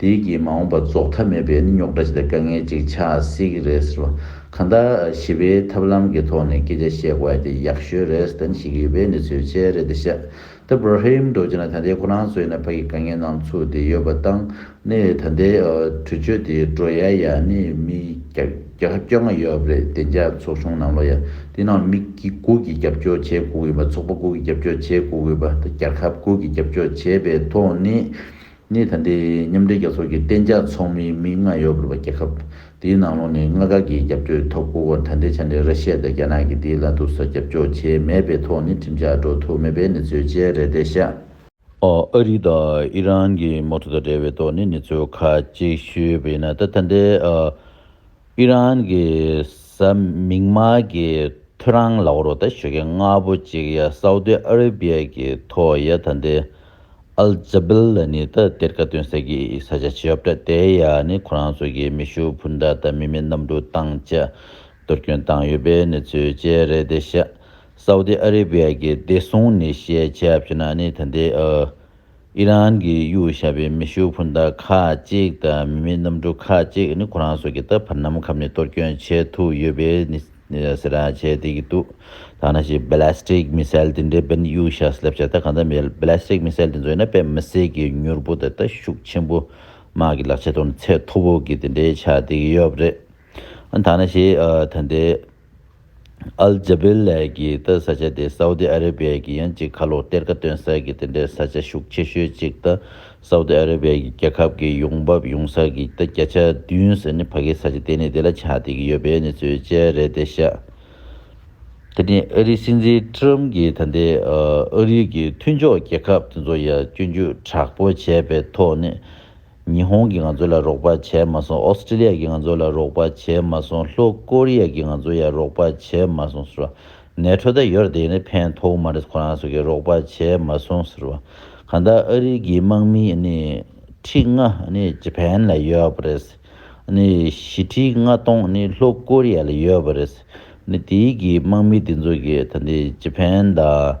དེའི་རྐྱེན་མ་འོངས་པར་རྫོགས་མཐའ་མེད་པའི་རྙོག་དྲ་ཞིག་དང་དཀའ་ངལ་ཅིག་ཆགས་སྲིད་ཀྱི་རེད་ཟེར་བ། གང་ལྟར། ཞི་བའི་ཐབས་ལམ་གྱི་ཐོག་ནས་སྐད་ཆ་བཤད་དགོས་པ་དེ་ཡག་ཤོས་རེད་བསྟན་བཤད་ཀྱི་ཡོད་པའི་གནས་ཚུལ་བཅས་རེད་འདི་ཤཱ་ཏི་བྷ་ར་ཧེ་ཡུམ་རྡོ་རྗེ་ནས་ད་ལྟའི་ཁོ་རང་ཚོའི་ནས་ཕ་གི་དཀའ་ངལ་ནང་ཚུད་དེ་ཡོད་པ་དང་ནས་ད་ལྟའི་གྲོས་ཆོད་དེ་འགྲོ་ཡ་ཡ་ནས་མི་བརྒྱ་ཁ་བཅོ་ལྔ་ཡོད་པ་རེད་བདེ་འཇགས་ཚོགས་ཆུང་ནང་ལོ་ཡ་དེ་ནང་མི་དགུ་གིས་རྒྱབ་སྐྱོར་བྱེད་དགོས་གི་ཡོད་པ་ཚོགས་པ་དགུ་གིས་རྒྱབ་སྐྱོར་བྱེད་དགོས་གི་ཡོད་པ་ད་རྒྱལ་ཁབ་དགུ་གིས་རྒྱབ་སྐྱོར་བྱས་པའི་ཐོག་ནས་གནས་ཐ་འདི་མཉམ་འབྲེལ་རྒྱལ་ཚོགས་ཀྱི་གཏན་འཇགས་ཚོགས་མིའི་མིག་སྔར་ཡོད་པར་བ་རྒྱལ་ཁབ་དེའི་ནང་ལོགས་ནས་མངའ་ཁག་གི་རྒྱབ་སྐྱོད་ཐོབ་སྐུ་གོང་ཐ་འདི་ཆ་འདྲེ་ར་ཤི་ཡ་དང་རྒྱ་ནག་གིས་འདིའི་ལ་དུ་སོགས་རྒྱབ་སྐྱོར་བྱས་མེད་པའི་ཐོག་ནས་ཁྲིམས་འཆར་འགྲོ་ཐུབ་མེད་པའི་གནས་ཚུལ་བཅས་རེ་བདེ་བཤད། ཨ་རི་དང་ཨི་རན་གྱི་དམག་འཁྲུག་དང་འབྲེལ་བའི་ཐོག་ནས་གནས་ཚུལ་ཁ་ཅིག་ཞུས་པ་ཡིན་ན་ད་ཐ་འདི། ཨི་རན་གྱི་གཟའ་མིག་དམར་གྱི་ཐོད་རང་ལག་རོ་ད་ཞོ་གས་རྔ་པོ་གཅིག་ཡ་སའུ་ཏི་ཨ་རི་བྷི་ཡ་གྱི་ཐོ་ཡ་ད་འདི་ཨལ་ཇ་བིལ་ལ་ནི་ད་དེར་ཀ་ཏོན་ས་གི་ས་ཆ་ཆེ་ཡོབ་ད་དེ་ཡ་ནི་ཁོ་རང་ཚོ་གི་མི་ཤུ་བུ་འདྲ་ད་མི་མི་གནམ་གྲུ་བཏང་བཅས་གཏོར་སྐྱོན་བཏང་ཡོད་པའི་གནས་ཚུལ་བཅས་རེད་དེ་ཤ་སའུ་ཏི་ཨ་རི་བྷི་ཡ་གི་བདེ་སྲུང་ནི་ཤེས་བྱ་ཕྱི་ན་ནི་ད་འདི་ཨ། ཨི་རན་གྱི་གཡུ་ཞབས་པའི་མེ་ཤུགས་འཕུར་མདའ་ཁག་གཅིག་དང་མི་མེད་གནམ་གྲུ་ཁག་གཅིག་ནི་ཁོ་རང་སོགས་ཀྱིས་ད་བར་ནམ་མཁའ་ནས་གཏོར་སྐྱོན་བྱེད་ཐུབ་ཡོད་པས་ནི་ཟེར་ར་བྱས་བསྡད་ཀྱི་འདུག་ཐ་ན་ཞེས Ballistic Missile དེ་འདྲའི་བན་གཡུ་ཞབས་སུ་སླེབས་ཆ་ད་གང་ལྟར་མེད Ballistic Missile དེ་ཚོ་ཡིན་ན་དཔེ་མི་སྲིད་ཀྱི་མྱུར་པོ་དང་ལྟ་ཤུགས་ཆེན་པོ་དམག་གི་ལག་ཆ་དང་ཚད་མཐོ་པོ་གི་དེ་འདྲའི་ཆ་དེ་ཡོད་རེད་ཨང་ཐ་ན་ཞེས་ད་ལྟའི། ཨལ་ཇཱ་བེལ་ལཱས་ཀྱིས་ད་ས་ཆ་དེ་སའུ་ཏི་ཨ་རེ་བྷི་ཡ་ཀྱི་ཡང་གཅིག་ཁ་ལོ་གཏེར་ཁ་སྟོན་ས་ཀྱི་དེ་འདྲའི་ས་ཆ་ཤུགས་ཆེ་ཤོས་གཅིག་ད་སའུ་ཏི་ཨ་རེ་བྷི་ཡ་ཀྱི་རྒྱལ་ཁབ་ཀྱི་ཡོང་འབབ་ཡོང་ས་ཀྱི་ད་བརྒྱ་ཆ་བདུན་ཟེར་ནི་ཕ་གིའི་ས་ཆ་དེ་ནི་དེ་ལ་ཆགས་བསྡད་ཀྱི་ཡོད་པའི་གནས་ཚུལ་བཅས་རེད་དེ་ཤ་དེ་ནི་ཨ་རིའི་སྲིད་འཛིན Trump གྱིས་ད་ལྟའི་ཨ་རིའི་གི་མཐུན་ཕྱོགས་རྒྱལ་ཁབ་དེ་ཚོ་ཡ་སྐྱོན་བརྒྱུད་དྲག་པོ་བྱས་པའི་ཐོག་ནས། ཉི་ཧོང་གིས་ང་ཚོ་ལ་རོགས་པ་བྱས་མ་སོང་ཨོ་སི་ཀྲི་ལི་ཡ་གིས་ང་ཚོ་ལ་རོགས་པ་བྱས་མ་སོང་ལྷོ་ཀོ་རི་ཡ་གིས་ང་ཚོ་ཡར་རོགས་པ་བྱས་མ་སོང་ཟེར་བ། ནས་ཁྲོ་ད་ཡོར་དེ་ནི་ཕན་ཐོགས་མ་རེད་ཁོ་རང་ཚོ་གིས་རོགས་པ་བྱས་མ་སོང་ཟེར་བ། གང་ལྟར་ཨ་རིའི་གི་དམག་མི་ནི་ཁྲི་ལྔ་ནི་ཇི་ཕན་ལ་ཡོད་པ་རེད། ནི་བཞི་ཁྲི་ལྔ་སྟོང་ནི་ལྷོ་ཀོ་རི་ཡ་ལ་ཡོད་པ་རེད། ནི་དེའི་གི་དམག་མི་དེ་ཚོ་གིས་ད་ནི་ཇི་ཕན་དང།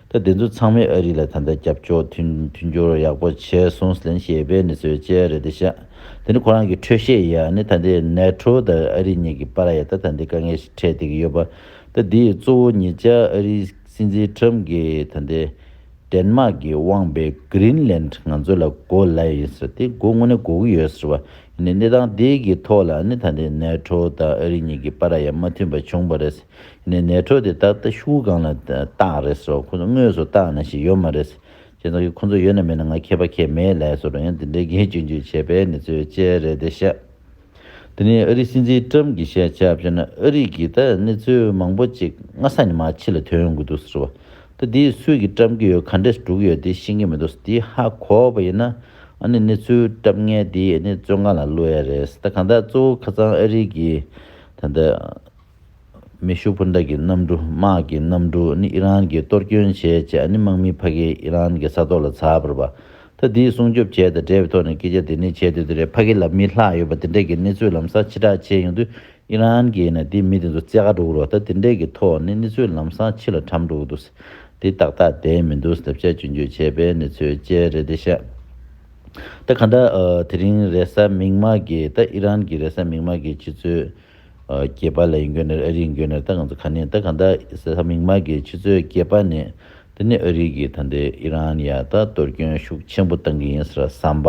ད་དེ་ཚོ་ཚང་མས་ཨ་རི་ལ་ད་ལྟ་རྒྱབ་སྐྱོར་མཐུན་སྦྱོར་ཡག་པོ་བྱས་སོང་ཟེར་ནས་ཞེས་པའི་ནི་ཟོལ་བཅད་རེད་དེ་ཤག་དེ་ནི་ཁོ་རང་གི་འཕྲོད་བཞེས་ཡ་ནི་ད་ལྟའི་ནེ་ཏྲོ་དང་ཨ་རི་གཉིས་ཀྱི་པར་ཡ་ད་ད་འདི་དཀའ་ངལ་ཞིག་འཕྲད་བསྡད་ཀྱི་ཡོད་པ་ད་འདི་ཡི་གཙོ་བོ་ཉིད་ཅག་ཨ་རི་སྲིད་འཛིན་ཁྲམ་གྱི་ད་ལྟའི་དྲན་མ་གི་དབང་པའི Green Land ང་ཚོ་ལ་བགོ་སླད་ཡིན་ཟེར་དེ་བགོ་དངོས་གནས་གོ་གི་ཡོད་ཟེར་བ་ཡིན་ནི་གནས་སྟངས་འདི་གི་ཐོག་ལ་ནི་ད་འདི་ནེ་ཏྲོ་དང་ཨ་རི་གཉིས་ཀྱི་པར་ཡ་མ་མཐུན་པ་བྱུང་བ་རེད་ཟེར་ནས་ནད་ཐོག་དེ་ད་ལྟ་ཤུགས་གང་ལ་བཏགས་རེད་སོགས་ཁོ་ཚོ་དངོས་སུ་བཏགས་ནས་ཞིག་ཡོད་མ་རེད། ཅེས་དང་ཁོ་ཚོ་ཡོད་ན་མེད་ན་ང་མཁས་པ་ཁས་མེད་ལས་སོགས་རང་ཡང་དེ་འདྲའི་འགན་བཅོལ་འཇུག་བྱས་པའི་ནི་ཚོད་དཔྱད་རེད་དེ་ཤ། དེ་ནས་ཨ་རིའི་སྲིད་འཛིན་ཀྲམ་གྱིས་བཤད་བྱ་བྱས་ན་ཨ་རིག་གིས་ད་ནི་ཚོད་མང་པོ་ཅིག་སྔ་ས་ནས་མ་ཕྱི་ལ་ཐོན་དགོས་འདུག་ཟེར་བ། ད་དེའི་ཚོད་ཀྱིས་ཀྲམ་གྱི་ཡོལ་ག་འདྲས་དྲུག་ཡོད་དེ་ཤེས་ཀྱི་མི་འདུག་དེ་ཧ་གོ་བ་ཡིན་ན་ཨ་ནི་ནི་ཚོད་ཀྲམ་ངན་དེས་ནི་ཚོད་འགའ་ལ་བསླུ་ཡ་རེད་ད་གང་ལྟར་གཙོ་བོ་ཁ་ཚང་ཨ་རིག་གིས་ད་ནི། མེ་ཤུགས་འཕུར་མདའ་གྱི་གནམ་གྲུ་དམག་གི་གནམ་གྲུ་ནི་ཨི་རན་གྱིས་གཏོར་སྐྱོན་བྱས་རྗེས་ཨ་ནི་དམག་མིའི་ཕ་གིའི་ཨི་རན་གྱི་ས་ཐོག་ལ་ཚ་བུར་བ་ད་དེའི་སྲུང་སྐྱོབ་བྱས་དང་འབྲེལ་བའི་ཐོག་ནས་སྐད་ཆ་དེ་ནི་བྱེད་འདོད་དེ་རེད་ཕ་གི་ལ་མི་ལྷག་ཡོད་པ་དེ་འདྲས་ཀྱི་གནས་ཚུལ་ལམ་སང་ཕྱི་བསྒྲགས་བྱས་ཡོང་དུས་ཨི་རན་གྱིས་ནས་དེ་མི་དེ་ཚོ་རྩེ་ག་འགྲོ་གི་རོགས་ད་དེ་འདྲས་ཀྱི་ཐོག་ནས་གནས་ཚུལ་ལམ་སང་ཕྱི་ལ་དྲམ་འགྲོ་གི་འདུག་དེ་ཏག་ཏག་བསྡད་མི་འདུག་བསྡབ་བྱ་བཅོས་འགྱུར་བྱས་པའི་གནས་ཚུལ་བཅས་རེད་དེ་ཤ་ད་ག་འདྲ་དེ་རིང་རེས་གཟའ་མིག་དམར་གྱིས་ད་ཨི་རན་གྱི་རེས་གཟའ་མིག་དམར་གྱིས་ཕྱི་ཚུལ། སྐྱེས་པ་ལ་ཡིན་དགོས་ནི་ཨ་རིའི་ཡིན་དགོས་ནི་ད་གང་ཚོད་ག་ནས་ད་གང་ད་ས་ས་མིག་དམར་གི་ཆུ་ཚོད་སྐྱེས་པ་ནས་དེ་ནས་ཨ་རིའི་གི་ད་འདི་ཨི་རན་ཡ་ད་གཏོར་སྐྱོན་ཤུགས་ཆེན་པོ་བཏང་གི་ཡིན་ཟེར་བ་བསམ་པ་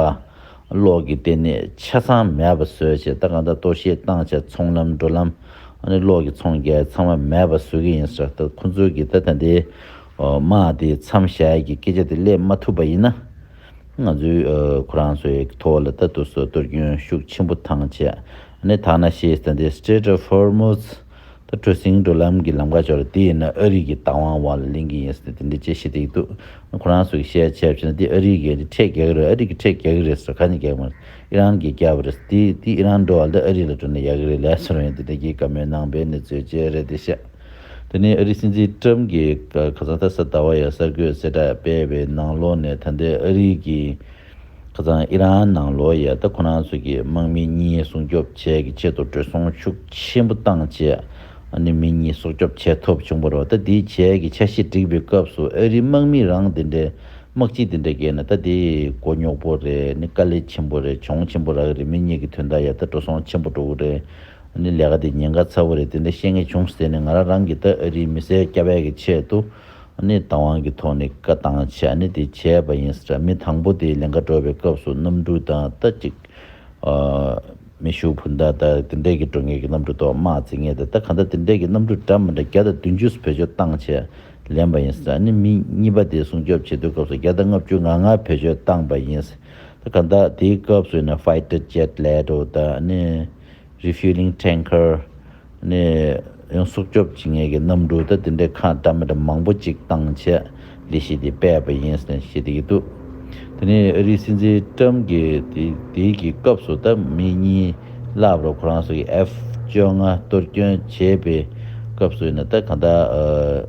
ལོག་གི་ལྟེ་གནས་ཆ་ཚང་མེད་པ་བཟོས་བྱས་ད་གང་ད་གཏོར་བཤིག་བཏང་བྱས་ཚོང་ལམ་འགྲོ་ལམ་ཨ་ནི་ལོག་གི་ཚོང་རྒྱལ་ཚང་མ་མེད་པ་བཟོས་གི་ཡིན་ཟེར་བ་ད་ཁོང་ཚོས་གི་ད་ད་འདི་དམག་དེ་མཚམས་བཞག་གི་སྐད་ཆ་དེ་སླེབས་མ་ཐུབ་པ་ཡིན་ན་ང་ཚོའི་ཁོ་རང་ཚོའི་ཐོག་ལ་ད་གཏོར་སྐྱོན་ཤུགས་ཆེན་པོ་བཏང་བྱས་ནི་ཐ་ན་ཤེས་ལྡན་དེ Strait of Hormuz དང་གྲུ་གཟིངས་འགྲོ་ལམ་གྱི་ལམ་ཁ་ཅོར་དེ་ཡིན་ན་ཨ་རིག་གི་རྟ་དབང་དབང་ལ་ལིང་གི་ཡིན་ཟེར་དེ་འདི་ཅེས་བཤད་དེ་ཡི་འདུག་ཁོ་རང་ཚོ་གི་བཤད་ཡ་ཆད་བྱས་ན་དེ་ཨ་རིག་གི་ཁྲས་རྒྱག་གི་རེད་ཨ་རིག་གི་ཁྲས་རྒྱག་གི་རེད་ཟེར་ག་ནས་རྒྱག་མ་རེད་ཨི་རན་གྱིས་རྒྱག་པ་རེད་དེ་དེ་ཨི་རན་འགྲོ་བ་འདི་ཨ་རིག་ལ་སྤྲོད་ན་ཡག་གི་རེད་ལས་ཚོར་བ་ཡིན་དེ་འདྲ་གྱིས་ཀ་མོས་ནང་པའི་གནས་ཚུལ་བཅས་རེད་དེ་བཤད་དེ་ནི་ཨ་རིག་སྲིད་འཛིན Trump གྱིས་ཁ་སང་དྷ་སར་ཟླ་བ་ཡར་གསར་འགོད་གསལ་བསྒྲགས་སྤེལ་བའི་ནང་ལོགས་ནས་ད་ལྟའི་ཨ་རིག་གི་ཁ་སང་ཨི་རན་ནང་ལོ་ཡལ་ད་ཁོ་རང་ཚོ་གི་དམག་མི་གཉིས་སྲུང་སྐྱོབ་བྱས་གི་ཆེད་དུ་དྲོད་སྲུང་ཤུགས་ཆེན་པོ་བཏང་རྗེས་ནི་མི་གཉིས་སྲོག་སྐྱོབ་བྱས་ཐུབ་བྱུང་པ་རོ་ད་དེའི་རྗེས་ཀྱི་ཆ་ཤས་སྒྲིག་པའི་སྐབས་སུ་ཨ་རིའི་དམག་མི་རང་དེ་འདྲའི་དམག་སྤྱི་དེ་འདྲ་བརྒལ་ན་ད་དེ་མགོ་རྙོག་པོ་རེད་ནི་དཀའ་ལས་ཆེན་པོ་རེད་གྱོང་ཆེན་པོ་རག་གི་རེད་མི་གཉིས་ཀྱི་དོན་དག་ཡལ་ད་དྲོ་སྲོང་ཆེན་པོ་འགྲོ་གི་རེད་ནི་ལས་ཀ་དེ་ཉེན་ཁ་ཚ་བོ་རེད་དེ་འདྲ་ཤེས་ངེས་བྱུང་ཟེར་ནི་ང་རང་རང་གིས་ད་ཨ་རིའི་མི་སེར་སྐྱ་བས་གི་ཆེད་དུ། གནས་དང་དབང་གི་ཐོག་ནས་བཀའ་བཏང་བྱས་ནས་དེ་བྱས་པ་ཡིན་ས་རེད་མི་དང་པོ་དེ་ལིངྒ་འགྲོ་བའི་སྐབས་སུ་གནམ་གྲུ་དང་རྟ་གཅིག། མེ་ཤུགས་བུན་དང་རྟ་དེ་འདྲས་ཀྱི་འགྲོ་ངེས་ཀྱི་གནམ་གྲུ་ཐོག་དམག་རྩིས་ངེས་དང་རྟ་ག་འདྲ་དེ་འདྲས་ཀྱི་གནམ་གྲུ་འདྲ་མི་འདྲ་བརྒྱ་དང་བདུན་ཅུ་སུ་བེད་སྤྱོད་བཏང་བྱས་ལེན་པ་ཡིན་ས་རེད་མི་གཉིས་པ་དེ་སྲུང་སྐྱོབ་བྱེད་དུས་སྐབས་སུ་བརྒྱ་དང་ལྔ་བཅུ་ང་ལྔ་བེད་སྤྱོད་བཏང་པ་ཡིན་ས་རེད་ག་འདྲ་དེའི་སྐབས་སུ་ཡིན་ན Fighter Jet ལས་རོ་དང། Refueling Tanker། ནི་ཡང་སྲུབ་སྐྱོབ་བྱེད་མཁན་གྱི་གནམ་གྲུ་དང་དེ་འདྲའི་ཁ་འདྲ་མི་འདྲ་མང་པོ་ཅིག་བཏང་ཆེད་ལས་གཞི་དེ་སྤེལ་བ་ཡིན་ཟེར་ནས་བཤད་ཀྱི་འདུག་དེ་ནས་ཨ་རིའི་སྲིད་འཛིན་ཀྲམ་གྱིས་དེའི་གི་སྐབས་སུ་ད་མི་གཉིས་ལབ་རོགས་ཁོ་རང་ཚོ་གི F བཅོ་ལྔ་གཏོར་སྐྱོན་བྱས་པའི་སྐབས་སུ་ཡིན་ན་ད་གང་ལྟར།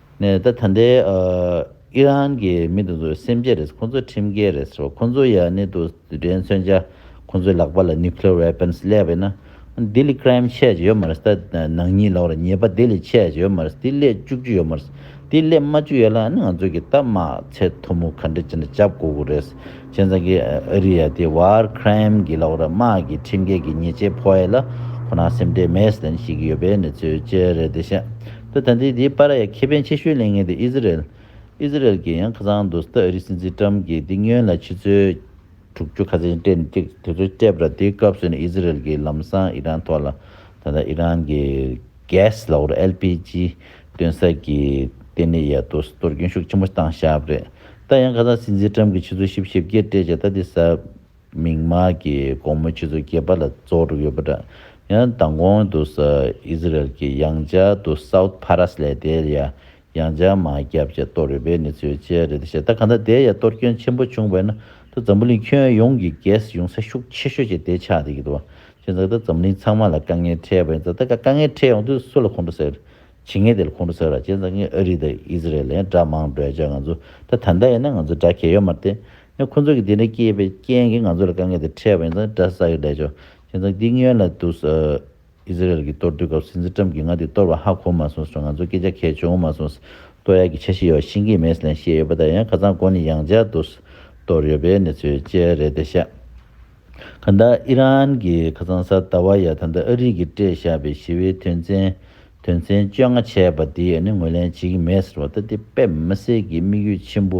ནས་ད་ད་ལྟའི་ཨི་རན་གྱི་མི་དེ་ཚོ་སེམས་ཅན་རེད་ཁོ་ཚོ་ཁྲིམས་འགལ་རེད་ཟེར་བ་ཁོ་ཚོ་ཡང་ནི་དུ་རེན་མཚོན་ཆ་ཁོ་ཚོའི་ལག་པ་ལ nuclear weapons སླེབས་པས་ན་དེ་ལས crime ཆེ་ཡོད་མ་རེད་ད་ནང་ཉིད་ལོག་རེད་ཉེས་པ་དེ་ལས་ཆེ་ཡོད་མ་རེད་དེ་སླེབས་བཅུག་རྒྱུ་ཡོད་མ་རེད་དེ་སླེབས་མ་བཅུག་ཡོད་ལ་ང་ཚོ་གི་ད་མ་ཚད་མཐོ་མོ་ག་འདྲ་ཅི་འདྲ་བྱ་དགོས་གི་རེད་ཁྱེད་ཚང་གི་ཨ་རི་ཡ་དེ war crime གི་ལོག་ར་དམག་གི་ཁྲིམས་འགལ་གྱི་ཉེས་ཆད་ཕོག་ཡོད་ལ་ཁོ་ན་སེམས་ཁྲལ་མེད་ཟེར་ཞིག་ཡོད་པའི་ནི་ཚོད་ཅི་རེད་དེ་ཤ་ད་ལྟ་འདི་དེའི་པར་ཡ་ཁེ་ཕན་ཆེ་ཤོས་ལེན་ངེས་འདུག་ཨི་ཟི་རེལ། Israel། གིས་ཡང་ཁ་ཚང་འདུག་ཟླ་ཨ་རི་སྲིད་འཛིན Trump གིས་འདི་སྨྱོན་ལ་ཕྱི་ཚོལ། དྲུག་ཅུ་ཁ་ཚན་སྤྲད་འདུག་དེ་ཚོ་སྤྲད་པ་དེའི་སྐབས་སུ་ནི་ཨི་ཟི་རེལ་གྱིས་ལམ་སང་ཨི་རན་ཐོག་ལ་ད་ལྟ་ཨི་རན་གྱི Gas ལ་ཨོར LPG སྟོན་ས་ཀྱི་ལྟེ་གནས་ཡ་ཏོ་སི་ཏོར་སྐྱོན་ཤུགས་ཆེན་པོ་བཏང་ཤག་རེད་ད་ཡང་ཁ་ཚང་སྲིད་འཛིན Trump གིས་ཕྱི་ཚོལ་ཞིབ་བཤེར་བརྒྱད་སྤྲད་ཅག་ད་དེ་ཟབ། མིག་དམར་གྱི་དགོང་མོ་ཁྱེད་ཚོ་སྐྱེས་པ་ལ་བཙོག་གྲབས་ཡོད་པ་འདྲ། ཡང་མདང་དགོང་དུ་ས་ཨིས་ར་ཨེལ་གྱི་ཡང་བྱ་དུ South Paras ལས་དེའི་ཡ་ཡང་བྱ་མ་རྒྱབ་བྱ་གཏོར་ཡོད་པའི་གནས་ཚུལ་བཅས་རེད་དེ་བྱས་ད་ག་ད་དེའི་ཡ་གཏོར་སྐྱོན་ཆེན་པོ་བྱུང་བས་ན་ད་འཛམ་བུ་གླིང་ཁྱོན་ཡོངས་ཀྱི་རྒྱས་ཡོང་ས་ཤུགས་ཆེ་ཤོས་བྱས་དེ་ཆགས་དེ་གི་འདུག་བྱས་ད་ག་ད་འཛམ་བུ་གླིང་ཚང་མ་ལ་དཀའ་ངལ་འཕྲད་པ་ཡིན་ད་ག་ད་དཀའ་ངལ་འཕྲད་ཡོང་དུས་སུ་ལ་ཁོང་ཁྲོ་ཟེར་ཇི་སྔའི་དེ་ལ་ཁོང་ཁྲོ་ཟེར་བ་ཅན་ཚང་གིས་ཨ་རི་དང་ཨི་ཟི་རེལ་ལན་དགྲ་མང་བགྲོས་བྱས་ང་ཚོ་ད་ད་ལྟ་ཡིན་ན་ང་ཚོ་དགྲ་གལ་ཡོད་མ་རེད་ཡང་ཁོང་ཚོ་གིས་དེ་འདྲ་སྐྱེས་པའི་རྐྱེན་གིས་ང་ཚོ་ལ་དཀའ་ངལ་དེ་འཕྲད་པ་ཡིན་ཙང་དགྲ་ཟ་གི་ལས་ཆོག་ཅན་ཚང་གིས་སྔོན་ལ་འདུག་ཨི་ཟི་རེལ་གྱིས་གཏོར་བསྡུས་སྐབས་སྲིད་འཛིན་ཀྲམ་གྱིས་ང་འདི་གཏོར་བ་ཧ་གོ་མ་སོང་ཟེར་ང་ཚོ་སྐད་ཆ་གལ་ཆེ་འོང་མ་སོང་གཏོར་ཡག་གི་ཆ་ཤི་ཡོད་བ་ཤིན་གྱི་མེད་ལན་བཤད་ཡོད་པ་དང་ཡང་ཁ་ཚང་དགོ་ནི་ཡང་འཇག་འདུག་གཏོར་ཡོད་པའི་གནས་ཚུལ་བཅས་རེད་དེ་ཤ། ཁ་སང་ཨི་རན་གྱི་ཁ་སང་གཟའ་ཟླ་བ་ཡ་ད་ནྡ་ཨ་རིག་གིས་སྤྲད་བཞག་པའི་ཞི་བའི་དོན་ཚན་དོན་ཚན་བཅོ་ལྔ་བྱས་པ་དེ་ནི་ངོས་ལེན་བྱེད་ཀྱི་མེད་ཟེར་བ་ལྟ་དེ་དཔེ་མི་གསལ་གྱི་དམིགས་ཡུལ་ཆེན་པོ་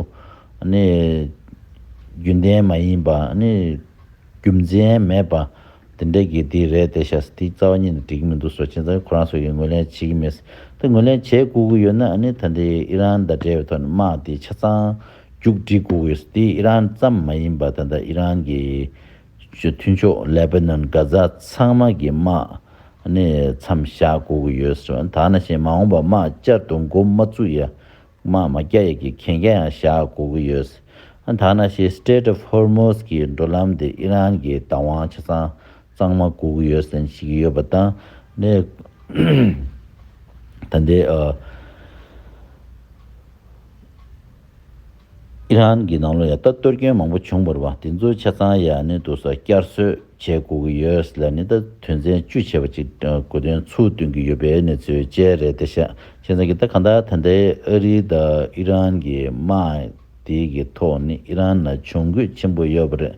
ནི་རྒྱུན་ལྡན་མ་ཡིན་པ་ནི་རྒྱུ་མཚན་མེད་པ་དེ་འདྲ་གི་དེ་རེད་དེ་ཤ་དེའི་རྩ་བ་གཉིས་ནི་འགྲིག་གི་མི་འདུག་སོ་ཅན་ཚང་གི་ཁོ་རང་སོ་ཡིས་ངོས་ལེན་བྱེད་ཀྱི་མེད་ཟེར་དེ་ངོས་ལེན་བྱེད་དགོས་ཀྱི་ཡོད་ན་ནི་ད་ནྡའི་ཨི་རན་དང་འབྲེལ་བའི་ཐོག་ནས་དམག་དེ་ཆ་ཚང་མཇུག་སྒྲིལ་ཀུ་ཝེས་ཏི་ཨི་རན་ཙམ་མ་ཡིན་པ་ད་ལྟ་ཨི་རན་གྱི་མཐུན་ཕྱོགས་ལེ་བྷ་ནོན་གྷ་ཛ་ཚང་མ་གི་དམག་ནི་མཚམས་བཞག་དགོས་ཀྱི་ཡོད་ཟེར་བ་ནི་དག་ན་ཞེས་མ་འོངས་པར་དམག་བསྐྱར་དུ་མགོ་མ་བཙུགས་ཡ་དམག་མ་རྒྱག་ཡ་གི་གན་རྒྱ་ཡང་བཞག་དགོས་ཀྱི་ཡོད་དག་ན་ཞེས Strait of Hormuz གི་འགྲོ་ལམ་དེ་ཨི་རན་གྱི་བདག་དབང་ཆ་ཚང་གཙང་མ་དགོས་ཀྱི་ཡོད་ཟེར་ཞིག་ཡོད་པ་དང་ནི་ད་ལྟའི་ཨི་རན་གྱི་ནང་ལོགས་ཡང་ལྟ་གཏོར་སྐྱོན་མང་པོ་བྱུང་བར་བ་དེ་ཚོའི་ཆ་ཚང་ཡ་ནི་དུ་ས་བསྐྱར་གསོས་བྱེད་དགོས་ཀྱི་ཡོད་ས་ལ་ནི་ད་དུས་མཚན་བཅུ་ཆད་པ་ཅིག་དགོས་དོན་ཚུལ་སྟོན་གྱི་ཡོད་པའི་གནས་ཚུལ་བཅས་རེད་དེ་ཤ་ཆེན་ཚང་གི་ད་གང་ལྟར་ད་ལྟའི་ཨ་རི་དང་ཨི་རན་གྱི་དམག་དེ་གི་ཐོག་ནི་ཨི་རན་ལ་གྱོང་གུད་ཆེན་པོ་ཡོད་པ་རེད།